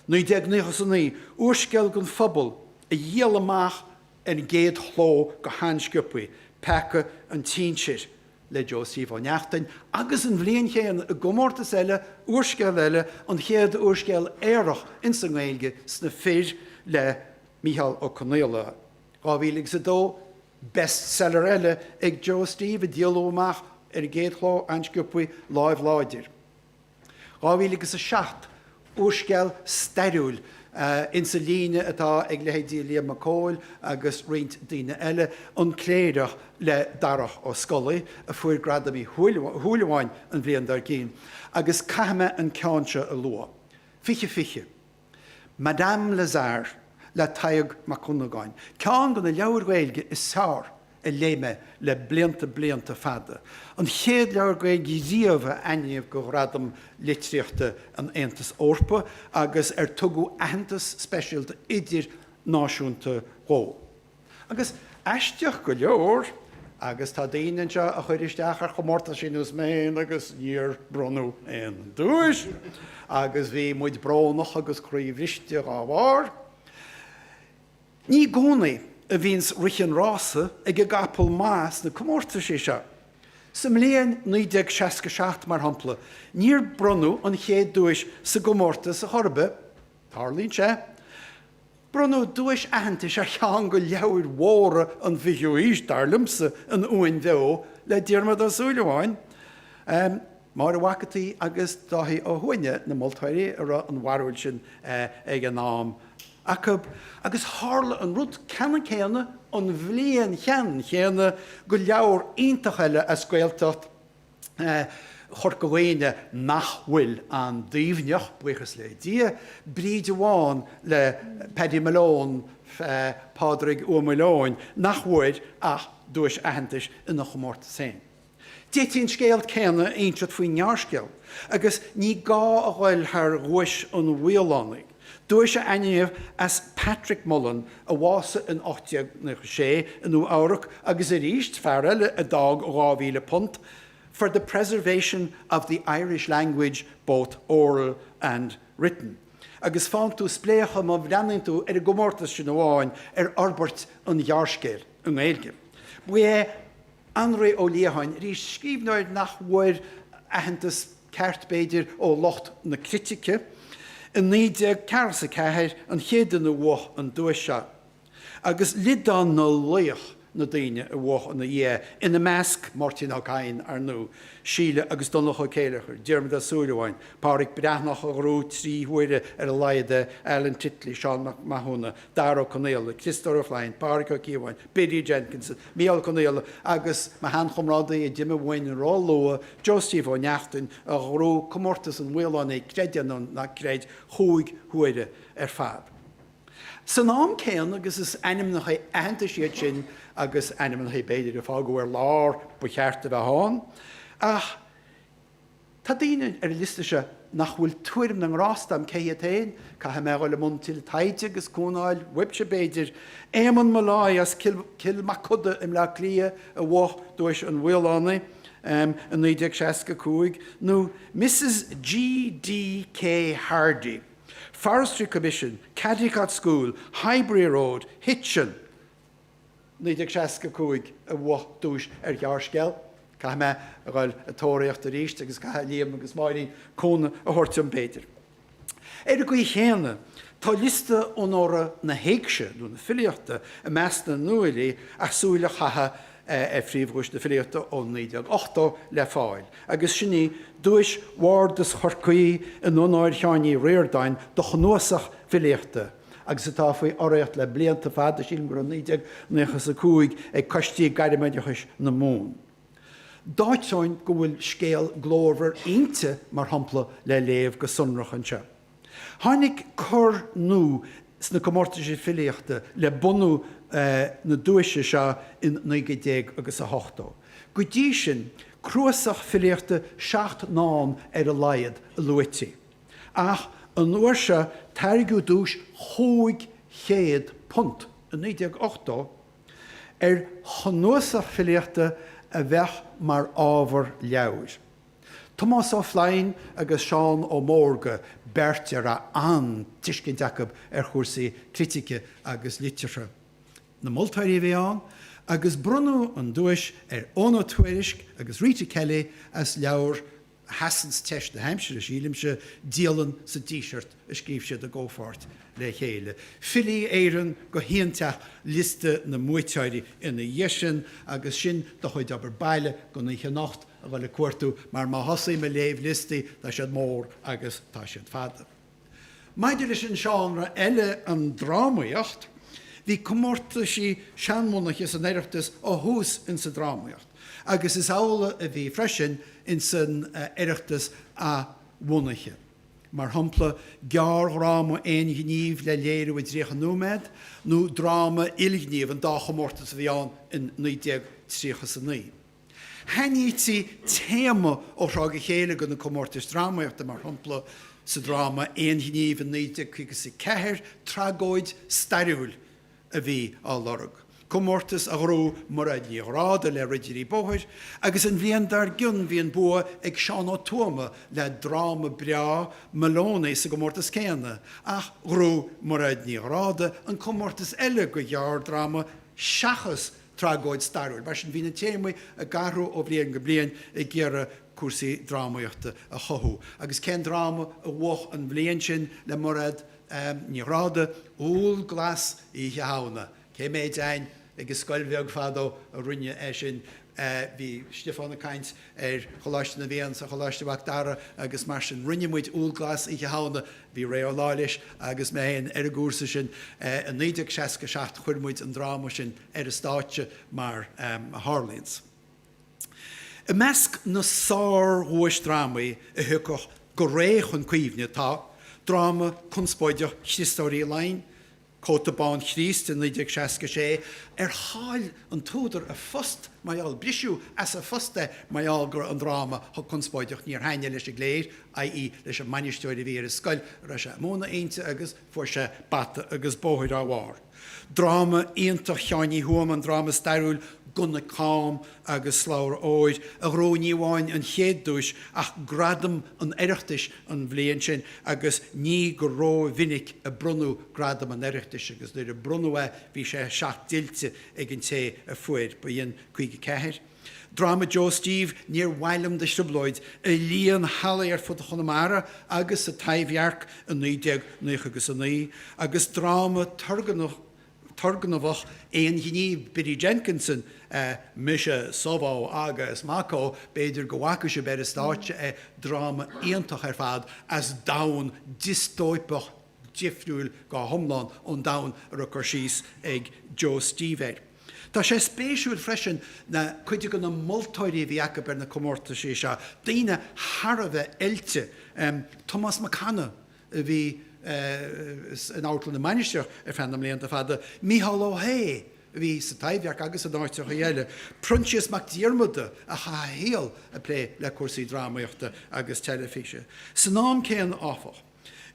1999, úrscéal don phobal a dhíol amach ar an gcéad chló go han-sciopaí, Peaca an tSinsir le Joe Steve Ó Neachtain, agus an bhliain chéanna, i gcomórtas eile, úrscéal eile, an chéad úrscéal aorach ins an nGaeilge, Sna Fir le Micheál Ó Conghaile, 2002, bestseller eile ag Joe Steve a díoladh amach ar an gcéad chló an-sciopaí, Lámh Láidir. 2007, úrscéal stairiúil in sa líne atá ag leithéidí Liam Mac Cóil agus roinnt daoine eile, An Cléireach le Darach Ó Scolaí a fuair Gradam Uí Shúilleabháin an bhliain dár gcionn, agus caithfidh mé an ceann seo a lua, 2020. Madame Lazare le Tadhg Mac Dhonnagáin, ceann de na leabhair Ghaeilge is fearr a léigh mé le blianta blianta fada, an chéad leabhar Gaeilge riamh a ainmníodh do Ghradam Litríochta an Aontais Eorpaigh agus ar tugadh aitheantas speisialta idirnáisiúnta dhó. Agus aisteach go leor, agus tá daoine anseo a chuir isteach ar chomórtaisí ar nós mé fhéin agus níor bronnadh aon duais agus bhí muid brónach agus croíbhriste dhá bharr. Ní gcónaí a bhíonns rith an rása ag an gcapall maith sna comórtaisí seo. Sa mbliain 1967 mar shampla níor bronnadh an chéad duais sa gcomórtas a chor ar bith. Tarlaíonn sé. Bronnadh duais aitheantais ar cheann de leabhair mhóra an fhichiú aois, dar liomsa, An Uain Bheo le Diarmaid Ó Súilleabháin. Máire Mhac an tSaoi agus Dáithí Ó hUaithne na moltóirí a raibh an bharúil sin ag an am acu agus tharla an rud ceannann céanna an bhliain cheannann chéanna do leabhar iontach eile as Gaeltacht Chorca Dhuibhne nach bhfuil aon Duibhneach, buíochas le Dia, Bríde Bhán le Paddy Malone, Pádraig Ua Maoileoin, nach bhfuair ach duais aitheantais ina chomórtas féin. D'fhéadfaí an scéal céanna a insint faoin ngearrscéal agus ní gá a dhul thar Dhuais an Mhaolánaigh, Duais a ainmníodh as Patrick Mullen a bhásaigh in 1896 i Nua Eabhrac agus arís fear eile a d'fhág £2,000 for the preservation of the Irish language both oral and written agus faigheann tú spléachadh má bhreathnaíonn tú ar an gcomórtas sin amháin ar fhorbairt an ghearrscéil i nGaeilge. Ba é Annraoi Ó Liatháin, arís scríbhneoir nach bhfuair aitheantas ceart, b'fhéidir, ó lucht na critice. I 1944 an chéad duine a bhuaigh an duais seo, agus liodán na laoch na daoine a bhuaigh ina dhiaidh, ina measc, Máirtín Ó Cadhain, ar ndóigh, Síle agus Donnchadh Ó Céileachair, Diarmaid Ó Súilleabháin, Pádraic Breathnach, a ghnóthaigh trí huaire ar a laghad é, Alan Titley, Seán Mac Mathúna, Dara Ó Conaola, Criostóir Ó Floinn, Pádraic Ó Cíobháin, Biddy Jenkinson. Micheál Ó Conghaile agus mo sheanchomrádaí a d'imigh uainn róluath, Joe Steve Ó Neachtain a ghnóthaigh comórtas an Mhaolánaigh creid é nó ná creid chúig huaire ar fad. San am céanna agus is ainmneacha aitheantais iad sin agus ainmneacha b'fhéidir a fágadh ar lár ba cheart a bheith ann ach Tá daoine ar an liosta seo nach bhfuil tuairim na ngrást agam cé hiad féin, caithfidh mé a dhul i mbun tuilleadh taighde agus cúnamh a fháil uaibhse b'fhéidir, Éamonn Molloy as Cill Mochuda i mBleá Cliath a bhuaigh duais an Mhaolánaigh i 1965 nó Mrs G. D. K. Hardy, Forestry Commission, Caldicott School, Highbury Road, Hitchin. 1965 a bhuaigh duais ar ghearrscéal, caithfidh mé a dhul ag tóraíocht arís agus caithfidh Liam agus Máirín cúnamh a thabhairt dom b'fhéidir. Ar an gcaoi chéanna tá liosta onóra na héigse nó na filíochta i measc na nuafhilí as súil a chaitheamh ar phríomhdhuais na filíochta ó 1980 le fáil agus sin í Duais Bhardas Chorcaí in onóir Sheáin Uí Ríordáin do chnuasach filíochta agus atá faoi urraíocht le blianta fada, sílim gur ó 1995 ag coistí gairmoideachais na Mumhan. D'áiteoinn go bhfuil scéal glórmhar Innti, mar shampla, le léamh go sonrach anseo. Tháinig cor nua sna comórtaisí filíochta le bunú na duaise seo in naoi gcéad déag agus a hochtó. Go dtí sin, cnuasach filíochta seacht ndán ar a laghad a luaití. Ach an uair seo tairgeadh duais £500, i 1980, ar chnuasach filíochta a bheadh mar ábhar leabhair. Tomás Ó Floinn agus Seán Ó Mórdha beirt a raibh an-tuiscint acu ar chúrsaí critice agus liteartha, na moltóirí a bhí ann agus bronnadh an duais ar Eoghan Ó Tuairisc agus Rita Kelly as leabhar sheasanns teist na haimsire, sílimse, Dialann sa Díseart a scríobh siad i gcomhpháirt le chéile. Filí Éireann go haointeach, liosta na mbuaiteoirí ina dhiaidh sin, agus sin do chuid obair baile don oíche anocht, a dhul ag cuartú, mar má thosaím ag léamh liostaí, tá siad mór agus tá siad fada. Maidir leis an seánra eile, an drámaíocht, bhí comórtaisí seanbhunaithe san Oireachtas ó thús insa drámaíocht agus is amhlaidh a bhí freisin insan Oireachtas athbhunaithe, mar shampla, gearrdhráma aon ghníomh le léiriú i dtríocha nóiméad nó dráma ilghníomh, an dá chomórtas a bhí ann in 1939. Shainítí téama ó thráth go chéile do na comórtais drámaíochta, mar shampla sa dráma Aon Ghníomh in 1954, tragóid stairiúil a bhí á lorg, comórtas a ghnóthaigh Mairéad Ní Ghráda le Ridirí Bóthair, agus an bhliain dár gcionn bhí an bua ag Seán Ó Tuama le dráma breá Moloney sa gcomórtas céanna, ach ghnóthaigh Mairéad Ní Ghráda an comórtas eile do ghearrdhráma seachas tragóid stairiúil. Mar sin, bhí na téamaí ag athrú ó bhliain go bliain ag iarraidh cúrsaí drámaíochta a chothú. Agus cén dráma a bhuaigh an bhliain sin le Mairéad Ní Ghráda, Úll Glas Oíche Shamhna? Cé mhéad againn ag an scoil bheag fadó a rinne é sin? Bhí Stiofán ag caint ar Choláiste na bhFiann is ar Choláiste Mhac Dara agus mar sin rinne muid Úll Glas Oíche Shamhna, bhí Ré Ó Laighléis agus mé féin ar an gcúrsa sin i 1967 chuir muid an dráma sin ar an stáitse mar a tharlaíonns. I measc na sár-dhuaisdrámaí a thiocfadh go réidh chun cuimhne tá, dráma conspóideach Chriostóir Uí Fhloinn, Cóta Bán Chríost i 1966 Ar chaill an t-údar a phost mar gheall Briseadh as a phost é mar gheall go raibh an dráma chomh conspóideach Níor thaitnigh leis an gcléir, i.e. leis an mbainisteoir a bhí ar an scoil a raibh sé ag múineadh inti agus fuair sé bata agus bóthair dá bharr Dráma iontach Sheáin Uí Thuama An dráma stairiúil Gunna Cam agus Slabhra Óir a ghnóthaigh ní amháin an chéad duais ach gradam an Oireachtais an bhliain sin agus ní go ró mhinic a bronnadh gradam an Oireachtais agus nuair a bronnadh é bhí sé seacht dtuillte ag an té a fuair, ba shin 54. Dráma Joe Steve, Níor mhaith liom do thrioblóid, a líon hallaí ar fud Chonamara agus sa Taibhdhearc i 1999, agus dráma turgnamhach, turgnamhach aon ghníomh Biddy Jenkinson, 'Mise, Subhó agus Maccó', b'fhéidir go bhfaca sibh ar an stáitse é, dráma iontach ar fad as domhan diostóipeach difriúil go hiomlán ón domhan a raibh cur síos ag Joe Steve air. Tá sé spéisiúil freisin na cuid de na moltóirí a bhí acu ar na comórtaisí seo, daoine thar a bheith oilte, Tomás Mac Anna, a bhí in Amharclann na Mainistreach ar feadh na mblianta fada, Micheál Ó hAodha a bhí sa Taibhdhearc agus in áiteacha eile, Proinsias Mac Diarmada a chaith a shaol ag plé le cúrsaí drámaíochta agus teilifíse. San am céanna áfach,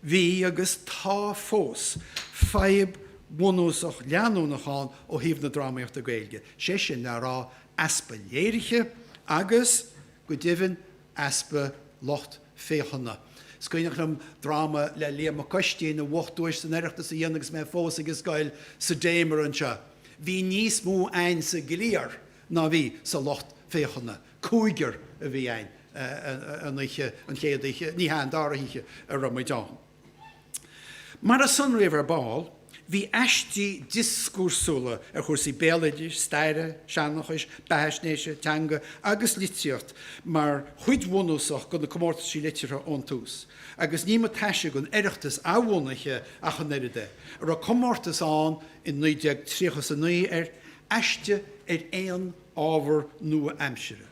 bhí agus tá fós fadhb bhunúsach leanúnach ann ó thaobh na drámaíochta Gaeilge, sé sin le rá easpa léirithe agus, go deimhin, easpa lucht féachana. Is cuimhneach liom dráma le Liam Mac Uistín a bhuaigh duais san Oireachtas a dhéanamh agus mé fós ag scoil, sa Damer anseo. Bhí níos mó againn sa gcliar ná bhí sa lucht féachana. Cúigear a bhí againn an oíche, an chéad oíche, ní hea, an dara hoíche a raibh muid ann. Mar a sonraíodh ar ball, bhí aistí dioscúrsúla ar chúrsaí béaloidis, staire, seanchais, beathaisnéise, teanga agus litríocht mar chuid bhunúsach de na comórtaisí liteartha ón tús, agus ní mba taise don Oireachtas athbhunaithe ach an oiread é, a raibh comórtas ann in 1930 is 9 ar aiste ar aon ábhar nua-aimsire.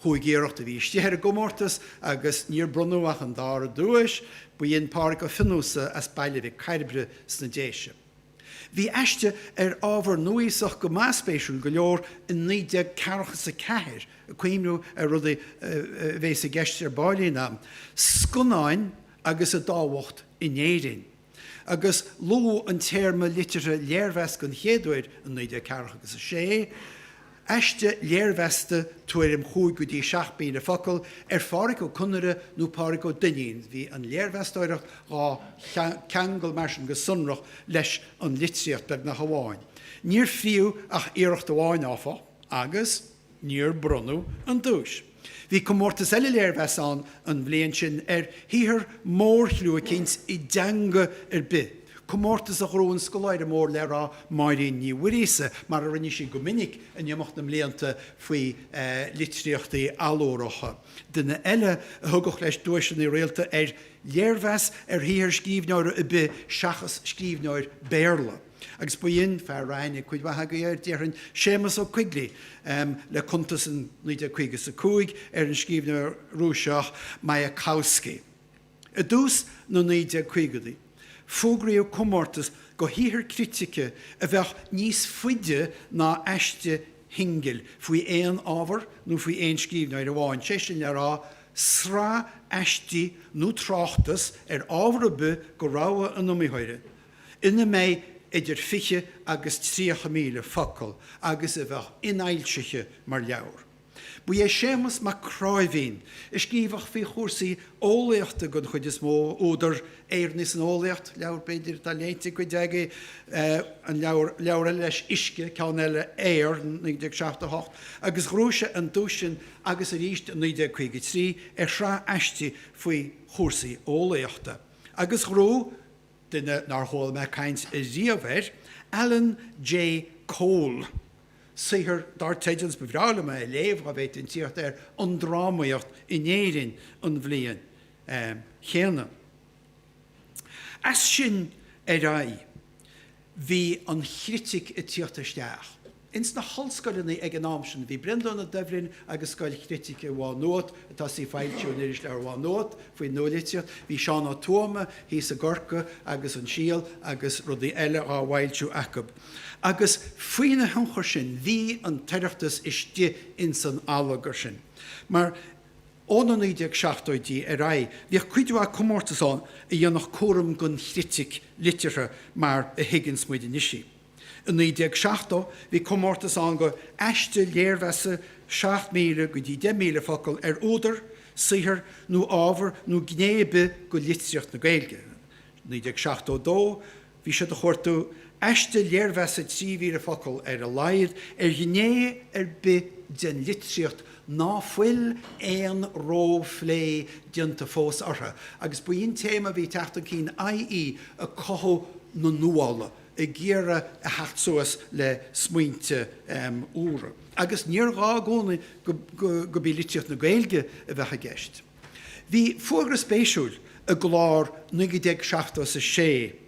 Chúig iarracht a bhí istigh ar an gcomórtas agus níor bronnadh ach an dara duais, ba shin Pádraig Ó Fiannusa as Baile Mhic Cairbre sna Déise. Bhí aiste ar ábhar núíosach go maith spéisiúil go leor in 1944 ag cuimhniú ar rudaí a bhéas i gceist ar ball inniu, scannáin agus a dtábhacht in Éirinn. agus luadh an téarma liteartha 'léirmheas' den chéad uair in 1940 agus is é aiste léirmheasta, tuairim chúig go dtí seacht míle focal, ar Phádhraic Ó Conaire nó Pádraig Ó Duinnín, bhí an léirmheastóireacht dhá cheangal mar sin go sonrach leis an litríocht, beagnach amháin. Níor fríodh ach iarracht amháin, áfach, agus. Níor bronnadh an duais. Bhí comórtas eile léirmheas ann an bhliain sin ar shaothar mórchliú éicint i dteanga ar bith, comórtas a ghnóthaigh an scoláire mór le rá Máirín Ní Mhuiríosa, mar a rinne sí go minic in imeacht na mblianta faoi litríochtaí allúracha. Duine eile a thugadh leis duaiseanna rialta ar léirmheas ar shaothar scríbhneora ar bith seachas scríbhneoir Béarla. Agus ba shin fear a raibh aithne ag cuid mhaith agaibh air, déarfainn, Séamus Ó Coigligh, le cuntas in 1950 is 5 ar an scríbhneoir Rúiseach Mayakovsky. I dtús na 1950idí fógraíodh comórtas do shaothar critice a bheadh níos faide ná aiste shingil faoi aon ábhar nó faoi aon scríbhneoir amháin, sé sin le rá, sraith aistí nó tráchtas ar ábhar ar bith de rogha an iomaitheora, ina mbeidh idir 20 agus 30 míle focal agus a bheadh infhoilsithe mar leabhar. Ba é Séamas Mac Cnáimhín a scríobhadh faoi chúrsaí eolaíochta den chuid is mó, údar Éireannaigh san Eolaíocht, leabhar b'fhéidir atá léite ag cuid agaibh, an leabhar, leabhar eile leis Uisce, ceann eile Aer, 1978, agus ghnóthaigh sé an duais sin agus arís in 1953 ar shraith aistí faoi chúrsaí eolaíochta, agus ghnóthaigh. duine nár chuala mé caint riamh air, Alan J. Cole. Saothar dar teideal, is ba bhreá liom é a léamh, dhá bhféadfainn tíocht air, An Drámaíocht in Éirinn an bhliain chéanna. As sin ar aghaidh. bhí an chritic ag tíocht isteach. Ins na hollscoileanna ag an am sin bhí Breandán Ó Doibhlin agus Scoil Chritice Mhá Nuad, ag tosaí ag foilsiú in Irisleabhar Mhá Nuad faoin nualitriocht, bhí Seán Ó Tuama thíos i gCorcaigh agus An Síol agus rudaí eile dhá bhfoilsiú acu. Agus faoina thionchar sin bhí an tOireachtas istigh ins an allagar sin. Mar. Ó na 1970idí ar aghaidh bhíodh cuid mhaith comórtas ann a dhéanadh cúram den chritic liteartha mar a thuigeanns muid anois í. I 1970 bhí comórtas ann go aiste léirmheasa 7,000 go dtí 10,000 focal ar údar, saothar nó ábhar nó gné ar bith de litríocht na Gaeilge. 1972. Bhí siad ag cuartú aiste léirmheasa 3,000 focal ar a laghad ar ghné ar bith den litríocht ná fuil aon ró-phlé déanta fós orthu agus b'in téama a bhí ag teacht chun cinn i.e. ag cothú na nuála, ag iarraidh a theacht suas le smaointe úra. Agus níor ghá i gcónaí gurb í litríocht na Gaeilge a bheadh i gceist. Bhí fógra spéisiúil i gclár 1976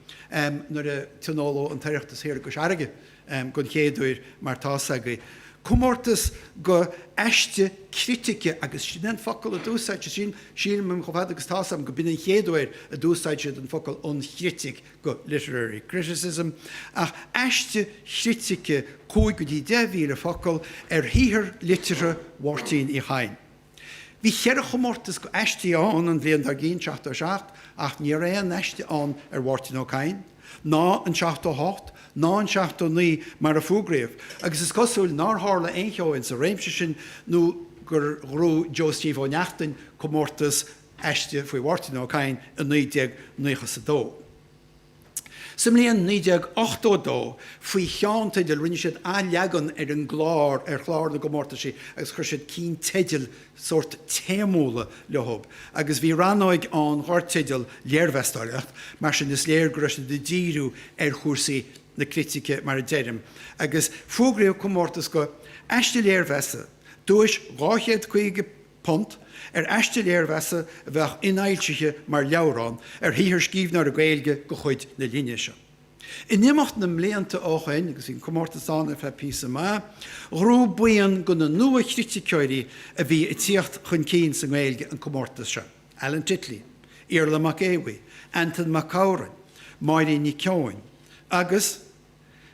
nuair a tionóladh an tOireachtas thiar i gCois Fharraige den chéad uair mar tá 's agaibh, comórtas go aiste critice agus sin é an focal a d'úsáid siad, sílim chomh fada agus tá 's agam, go b'in an chéad uair a d'úsáid siad an focal an chritic go literary criticism ach aiste chritice cúig go dtí deich mhíle focal ar shaothar liteartha Mháirtín Uí Chadhain. Bhí cheithre chomórtas go aistí ann an bhliain dár gcinn, 77, ach ní raibh aon aiste ann ar Mháirtín Ó Cadhain, ná an 78, ná an 79 mar a fuagraíodh, agus is cosúil nár tharla aon cheo ins an réimse sin nó gur ghnóthaigh Joe Steve Ó Neachtain comórtas aiste faoi Mháirtín Ó Cadhain i 1992. Sa mbliain 1982 faoi cheannteideal rinne siad athleagan ar an gclár ar chlár na gcomórtaisí agus chuir siad cinn teidil sórt téamúla leothub agus bhí rannóig ann dhár theideal Léirmheastóireacht, mar sin is léir go raibh siad ag díriú ar chúrsaí na critice mar a deirim, agus fógraíodh comórtas go Aiste Léirmheasa, duais £250, punt, aiste léirmheasa a bheadh infhoilsithe mar leabhrán ar shaothar scríbhneora Gaeilge go chuid na linne seo. In imeacht na mblianta ó shoin, agus bhí an comórtas ann ar feadh píosa maith, ghnóthaigh buíon go na nua-chriticeoirí a bhí ag tíocht chun cinn sa nGaeilge an comórtas seo, Alan Titley, Iarla Mac Aodh Bhuí, Antain Mag Shamhráin, Máirín Nic Eoin agus.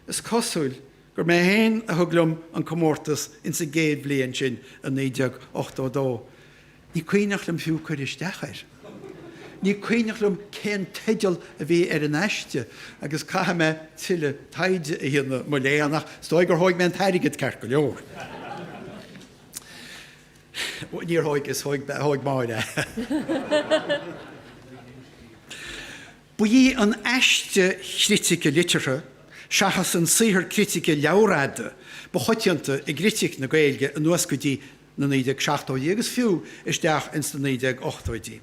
Is cosúil gur mé héin a thug liom an comórtas ins an gcéad bhliain sin a 1982. Ní cuimhneach liom fiú cur isteach air. Ní cuimhneach liom cén teideal a bhí ar an aiste agus caithfidh mé tuilleadh taighde a dhéanamh, mo léan, ach is dóigh gur thóig mé an t-airgead ceart go leor. Bhuel, níor thóig, thóig Máire. Ba í an aiste chritice liteartha seachas an saothar critice leabharfhada ba choitianta i gcritic na Gaeilge anuas go dtí na 1970idí agus fiú isteach ins na 1980idí.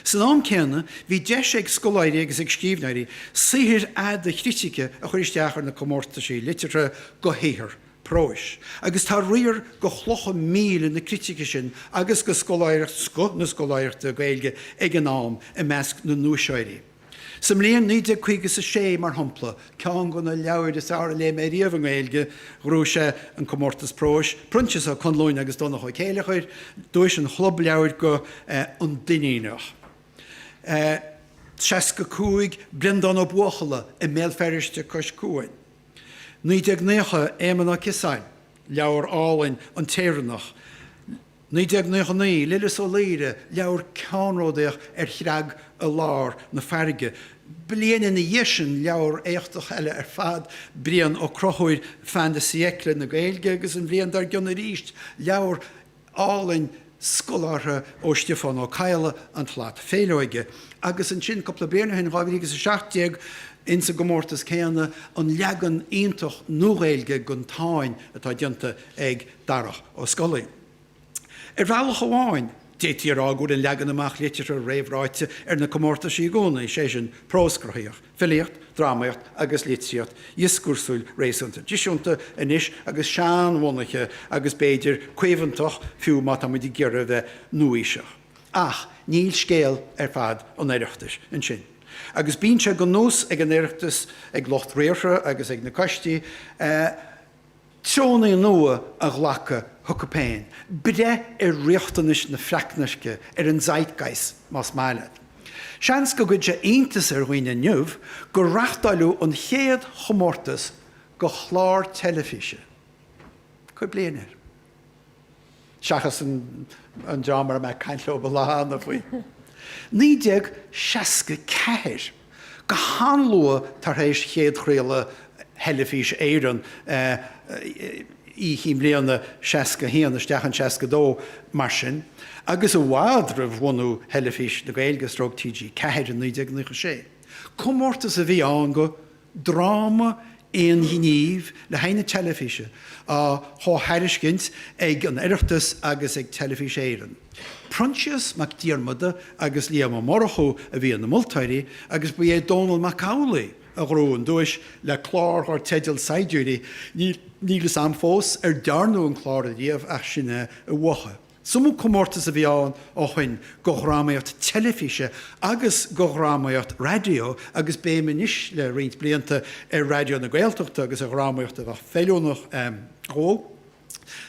San am céanna, bhí deis ag scoláirí agus ag scríbhneoirí saothair fhada chritice a chur isteach ar na comórtaisí liteartha go shaothar próis, agus tá riar go chlocha míle na critice sin agus go scoth na scoláireachta Gaeilge ag an am i measc na nduaiseoirí. Sa mbliain naoi déag caoga is a sé, mar shampla, ceann go na leabhair is fearr a léigh mé riamh i nGaeilge, ghnóthaigh sé an comórtas próis, Proinsias Ó Conluain agus Donncha Ó Céileachair, duais an Chlub Leabhair go An Duinníneach. 65, Brendán Ó Buachalla i mBéal Feirste cois cuain. 1990, Éamon Ó Ciosáin, leabhar álainn, An tÉireannach, 1999, Lillis Ó Laoire, leabhar ceannródaíoch ar chreag i lár na farraige, bliain ina dhiaidh sin leabhar éachtach eile ar fad, Brian Ó Conchubhair, Fin de Siècle na Gaeilge, agus an bhliain dár gcionn arís leabhar álainn scolártha ó Stiofán Ó Cadhla an tslat féithleoige agus ansin cúpla bliain ó shin, 2017, in sa gcomórtas céanna, an leagan iontach nuaGhaeilge gon Táin atá déanta ag Darach Ó Scolaí. Ar bhealach amháin, d'fhéadfaí a rá go bhfuil an leagan amach liteartha réamhráite ar na comórtaisí i gcónaí, sé sin, prós cruthaitheach, Filíocht, drámaíocht agus litríocht dhioscúrsúil réasúnta traidisiúnta anois agus seanbhunaithe agus b'fhéidir caomhantach fiú má tá muid ag iarraidh a bheith nua-aoiseach. Ach níl scéal ar fad an Oireachtais ansin. Agus bíonn sé go nós ag an Oireachtas, ag lucht riartha agus ag na coistí, Treoanna nua a ghlacadh chucu féin, breith ar riachtanais na freacnairce, ar an zeitgeist más maith leat. Seans go gcuirfidh sé iontas ar dhaoine inniu gur reachtáileadh an chéad chomórtas go chlár teilifíse. Cuir bliain air. seachas an dream a raibh mé ag caint leo ba lána faoi 1964, go han-luath tar éis chéadchraoladh Theilifís Éireann Oíche Chinn Bliana, 61 isteach in 62 mar sin, agus i bhfad roimh bhunú Theilifís na Gaeilge, stróc TG4 in 1996. Comórtas a bhí ann go. Dráma aon ghnímh le haghaidh na teilifíse, á chomhthairiscint ag an Oireachtas agus ag Telefís Éireann. Proinsias Mac Diarmada agus Liam Ó Murchú a bhí ina moltóirí agus ba é Dónall Mac Amhlaigh a ghnóthaigh an duais le clár dhár teideal Saighdiúirí, níl fhios a'm fós ar dearnadh an clár ariamh ach sin é a uathu. Is iomadh comórtas a bhí ann ó shoin go dhrámaíocht teilifíse agus go dhrámaíocht raidió agus béim anois le roinnt blianta ar Raidió na Gaeltachta agus ar dhrámaíocht a bheadh feiliúnach dhó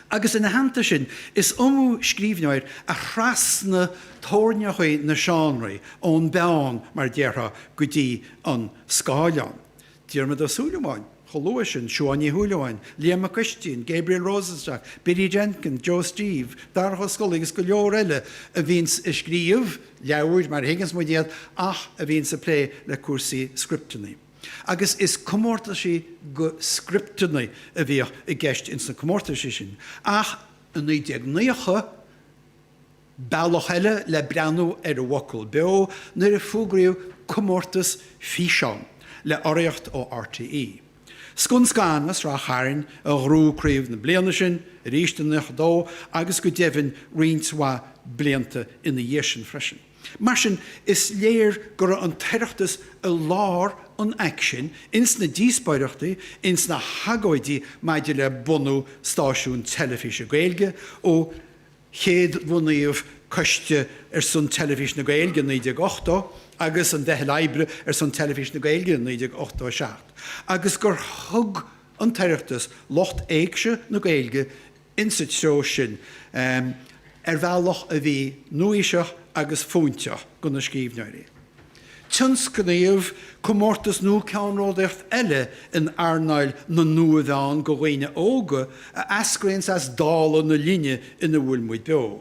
agus ina theannta sin is iomadh scríbhneoir a thrasnaigh teorainneachaí na seánraí ón bpeann mar déarfá go dtí an scáileán. Diarmaid Ó Súilleabháin chomh luath sin, Siobhán Ní Shúilleabháin, Liam Mac Uistín, Gabriel Rosenstock, Biddy Jenkins, Joe Steve, Darach Ó Scolaí agus go leor eile a bhíonns ag scríobh leabhair, mar a thuigeanns muid iad, ach a bhíonns ag plé le cúrsaí scripteannaí. Agus is comórtaisí go scripteannaí a bhíodh i gceist ins na comórtaisí sin. Ach i 1990, Bealach eile le breathnú ar an bhfocal beo nuair a fógraíodh comórtas físeán le urraíocht ó RTÉ. Scun Scan as Ráth Chairn a ghnóthaigh craobh na bliana sin, arís in 92 agus go deimhin roinnt mhaith blianta ina dhiaidh sin freisin. Mar sin is léir go raibh an tOireachtas i lár an aicsin, ins na díospóireachtaí, ins na hagóidí maidir le bunú stáisiún teilifíse Gaeilge ó chéad bhunaíodh Coiste ar son Teilifís na Gaeilge i 1980 agus an Mheitheal Oibre ar son Teilifís na Gaeilge i 1987 agus gur thug an tOireachtas lucht éigse na Gaeilge insa treo sin ar bhealach a bhí nua-aoiseach agus fóinteach go na scríbhneoirí. Tionscnaíodh comórtas nua ceannródaíoch eile in earnáil na nua-mheán go dhaoine óga a eascraíonns as dála na linne ina bhfuil muid beo.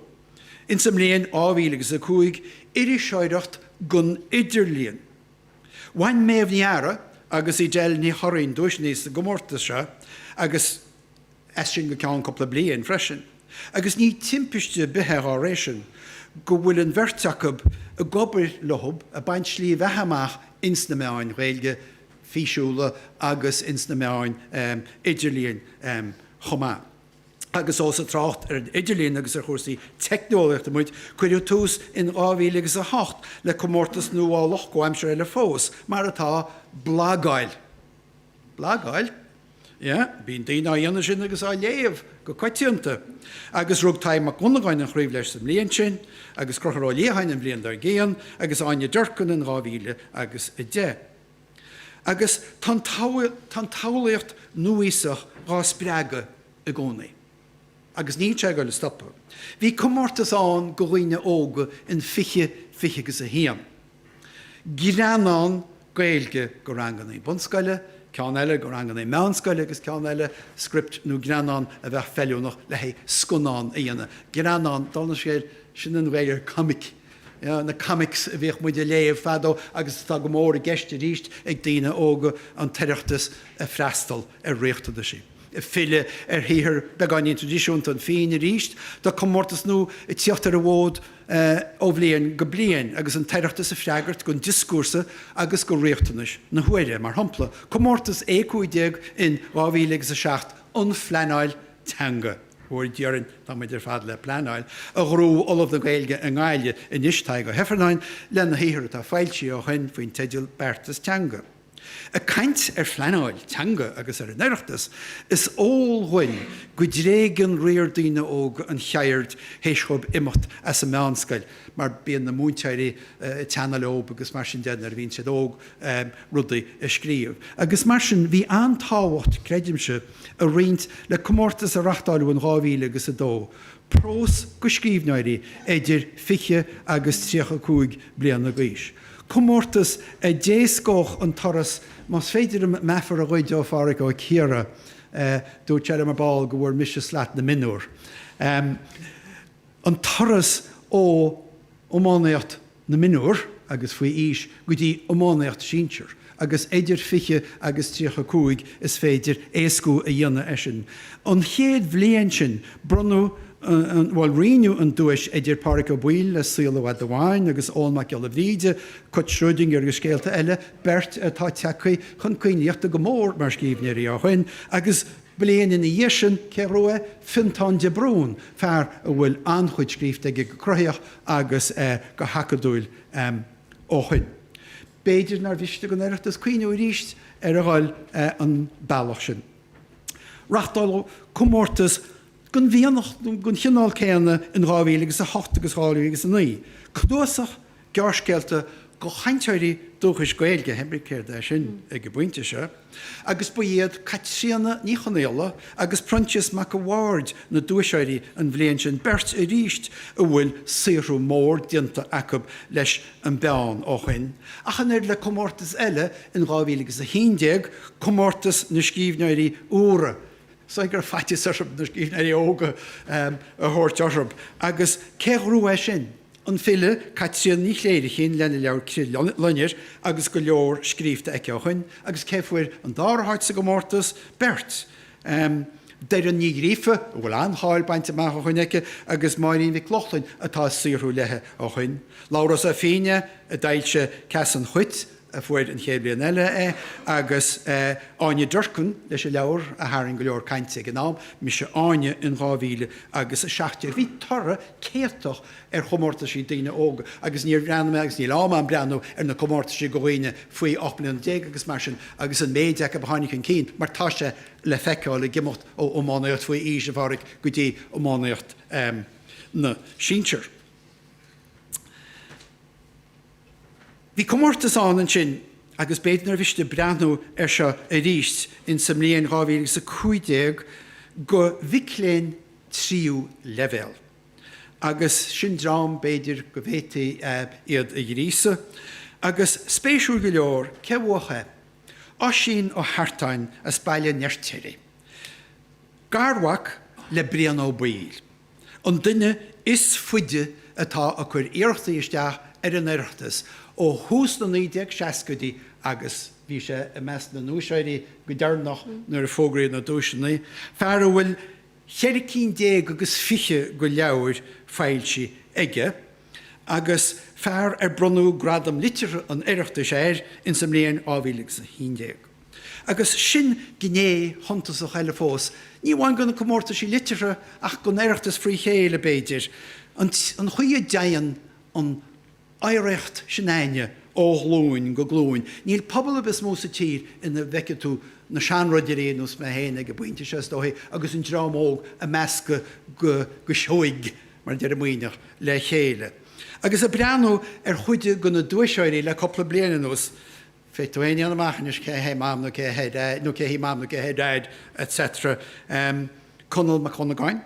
Ins an mbliain 2005, iriseoireacht gon idirlíon. Bhain Méabh Ní Eadhra agus Edel Ní Churraoin duaiseannaí sa gcomórtas seo agus. as sin go ceann cúpla bliain freisin agus ní timpiste ar bith é dhá réir sin go bhfuil an bheirt acub ag obair leob ag baint slí bheatha amach ins na meáin Ghaeilge físiúla agus ins na meáin idirlíon chomh maith. Agus ós ag trácht ar an idirlíon agus ar chúrsaí teicneolaíochta muid, cuireadh tús in dhá mhíle agus a hocht le comórtas nuálach comhaimseartha eile fós, mar atá, blagáil. blagáil? Yeah, bíonn daoine á dhéanamh sin agus á léamh go coitianta. Agus rug Tadhg Mac Dhonnagáin an chraobh leis sa mbliain sin, agus Concubhar Ó Liatháin an bhliain dár gcionn, agus Áine Durkin in 2000 agus 10. Agus tá an, tá an tsamhlaíocht núíosach dhá spreagadh i gcónaí. Agus níl sé ag goil a stopadh. Bhí comórtas ann go dhaoine óga in fiche, fiche agus a haon. greannán Gaeilge go rangannaí bunscoile, ceann eile go rangannaí meánscoile agus ceann eile script nó greannán a bheadh feiliúnach le haghaidh scannán a dhéanamh. Greannán, dála an scéil, sin an Ghaeilge ar comic. Na comics a bhíodh muid a léamh fadó agus atá go mór i gceist aríst ag daoine óga an tOireachtas a freastal ar riachtanaisí. ag filleadh ar shaothar beagáinín tradisiúnta an phinn arís tá comórtas nua ag tíocht ar an bhfód ó bhliain go bliain agus an tOireachtas ag freagairt gon dioscúrsa agus go riachtanais na huaire, mar shompla, comórtas E15 in 2000 agus 7 an phleanáil teanga. Fuair, deirim, tá muid ar fad le pleanáil, a ghnóthaigh Ollamh na Gaeilge i nGaillimh anois, Tadhg Ó hIfearnáin, lena shaothar atá foilsithe ó shoin faoin teideal Beartas Teanga. Ag caint ar phleanáil teanga agus ar an Oireachtas, is eol dhuinn go dtréigeann riar daoine óga an cheird théis dhóibh imeacht as an meánscoil mar bíonn na múinteoirí ag teannadh leob agus mar sin de nuair a bhíonn siad óg rudaí a scríobh agus mar sin. Bhí an-tábhacht, creidimse, ag roinnt le comórtas a reachtáileadh in dhá mhíle agus a dó, prós go scríbhneoirí idir 20 agus 35 bliana d'aois. Comórtas a d'éascódh an turas, más féidir meafar a ghoid ó Phádhraic Ó Ciardha, dúirt sé liom ar ball go bhfuair mise slot na mionúr, an turas ó. iománaíocht na mionúr agus faoi aois go dtí iománaíocht sinsear agus eidir 20 agus 35 is féidir éascú a dhéanamh ar sin. An chéad bhliain sin bronnadh an, bhuel roinneadh an duais eidir Páraic Ó Baoill le Saol i bhFad Amháin agus Eoghan Mac Giolla Bhríde, Cat Schrödinger agus scéalta eile, beirt atá tagtha chun coinlíochta go mór mar scríbhneoirí ó shoin, agus. Bliain ina dhiaidh sin, cé ghnóthaigh é? Fionntán de Brún, fear a bhfuil an-chuid scríofa aige go cruthaitheach agus go hacadúil ó shoin. B'fhéidir nár mhiste don Oireachtas cuimhniú arís ar a dhul an bealach sin. Reachtáladh comórtas den mhianach den chineál céanna in 2008 agus 2009, cnuasach Gearrscéalta go chainteoirí dúchais Gaeilge, hébrí céard é sin, ag an bpointe seo, agus ba iad Caitríona Ní Chonaola agus Proinsias Mac a' Bhaird na duaiseoirí an bhliain sin, beirt arís a bhfuil saothrú mór déanta acu leis an bpeann ó shoin, ach an oiread le comórtas eile in 2011, Comórtas na Scríbhneoirí Úra, is dóigh go raibh faitíos orthu na scríbhneoirí óga a thabhairt orthu, agus cé ghnóthaigh é sin? An file Caitríona Ní Chléirchín lena leabhar Crithloinnir agus go leor scríobhta aici ó shoin agus cé fuair an dara háit sa gcomórtas? Beirt! Doireann Ní Ghríofa a bhfuil an-cháil bainte amach ó shoin aici agus Máirín Mhic Lochlainn atá ag saothrú leithe ó shoin. Labhrás Ó Finneadha a d'fhoilsigh Ceas an Chait a fuair an chéad bliain eile é, agus Áine Durkin leis an leabhar a tharraing go leor cainte ag an am, Mise Áine in 2017. Bhí toradh céatach ar chomórtaisí daoine óga agus níor bhreathnaigh mé, agus níl am agam breathnú, ar na comórtaisí go dhaoine faoi 18 mbliana agus mar sin agus an méid acu a tháinig chun cinn mar tá sé le feiceáil ag imeacht ó iománaíocht faoi aois a Pháraic go dtí iománaíocht na sinsear. Bhí comórtas ann ansin agus b'fhéidir nár mhiste breathnú ar seo arís in sa mbliain dhá mhíle agus a cúig déag go mhic léinn tríú leibhéal agus sin dream b'fhéidir go bhféadfaí iad a ghríosadh agus spéisiúil go leor cé bhuach é? Oisín Ó hEartáin as Baile an Fheirtéaraigh, garmhac le Brian Ó Baoill. an duine is faide atá ag cur iarrachtaí isteach ar an Oireachtas ó thús na 1960idí agus bhí sé i measc na nduaiseoirí go deireanach nuair a fógraíodh na duaiseanna, fear a bhfuil cheithre cinn déag agus fiche go leabhair foilsithe aige agus fear ar bronnadh Gradam Liteartha an Oireachtais air ins an mbliain 2011. Agus sin gné shuntasach eile fós, ní amháin gona comórtaisí liteartha ach gon Oireachtas fré chéile, b'fhéidir, an chaoi a dteigheann an oidhreacht sin againne ó ghlúin go glúin. Níl pobal ar bith is mó sa tír ina bhfeicfidh tú na seanridirí ar nós mé féin ag an bpointe seo, is dóichí, agus an dream óg ag meascadh go seoigh, mar a deir an Muimhneach, le chéile. Agus ag breathnú ar chuid de na duaiseoirí le cúpla bliain anuas, Féadfaidh tú a dhéanamh amach anois cé hé Mam nó cé hí Mam nó cé hé Dad, etc. Conall Mac Dhonnagáin,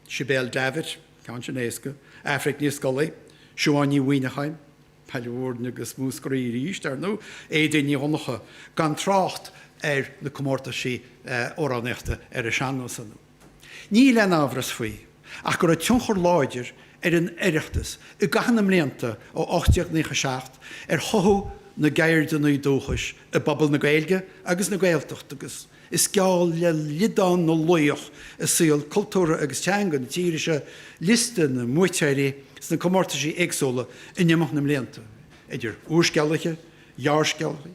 Sibéal Davitt, ceann sin éasca, Aifric Ní Scolaí, Siobhán Ní Mhuimhneacháin, Baile Bhuirne agus Múscraí arís, ar ndóigh, Éadaoin Ní Dhonncha, gan trácht ar na comórtaisí amhránaíochta ar an sean-nós, ar ndóigh. Níl aon amhras faoi ach go raibh tionchar láidir ar an Oireachtas i gcaitheamh na mblianta ó 1897 ar chothú na gceirdeanna dúchais i bpobal na Gaeilge agus na Gaeltachta agus is geall le liodán na laoch i saol cultúrtha agus teanga na tíre seo liosta na mbuaiteoirí sna comórtaisí éagsúla in imeacht na mblianta, idir úrscéalaithe, ghearrscéalaithe,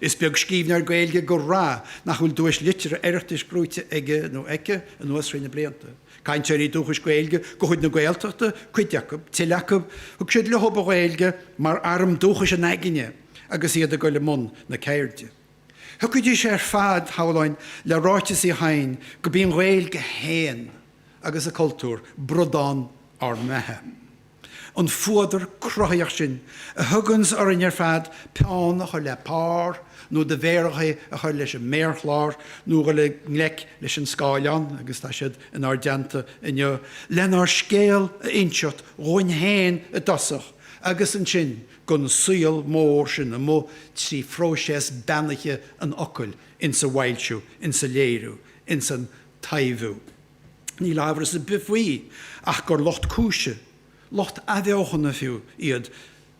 Is beag scríbhneoir Gaeilge go raibh nach bhfuil duais liteartha Oireachtais gnóite aige nó aici anuas thrí na blianta. Cainteoirí dúchais Gaeilge de chuid na Gaeltachta cuid acu, tuilleadh acu, thug siad leo an Ghaeilge mar arm dúchais a n-aigne agus iad ag dul i mbun na ceirde. Thiocfaidís ar fad, shamhlóinn, le ráiteas Uí Chadhain go mb'í an Ghaeilge féin, agus a cultúr, bradán ár mbeatha. An fuadar cruthaíoch sin a thuganns orainn ar fad peann a chur le pár nó do mhéaracha a chur leis an méarchlár nó a dhul i ngleic leis an scáileán, agus tá siad inár dteannta inniu, lenár scéal a inseacht dhúinn féin i dtosach agus ansin gon saol mór sin amuigh trí phróiseas beannaithe an fhocail, insa bhfoilsiú, insa léiriú, insan taibhiú. Níl amhras ar bith faoi ach gur lucht cúise, lucht athbheochana fiú, iad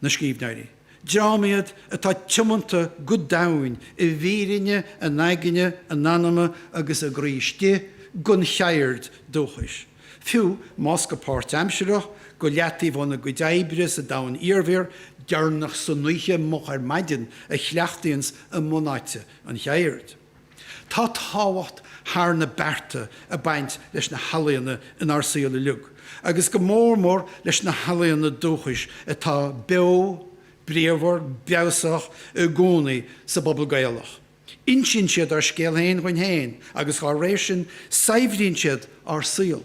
na scríbhneoirí. Dream iad atá tiomanta go domhain i bhfírinne a n-aigne, a n-anama agus a gcroí istigh gon cheird dúchais, fiú más go páirtaimsireach, go leataobh óna gcuid oibre sa domhan iarbhír, deireanach san oíche, moch ar maidin, a chleachtaíonns a mbunáite an cheird. Tá tábhacht thar na bearta ag baint leis na healaíona inár saol uilig, agus go mór mór leis na healaíona dúchais atá beo, bríomhar, breabhsach i gcónaí sa bpobal Gaelach. Insíonn siad ár scéal féin dhuinn féin agus dá réir sin saibhríonn siad ár saol.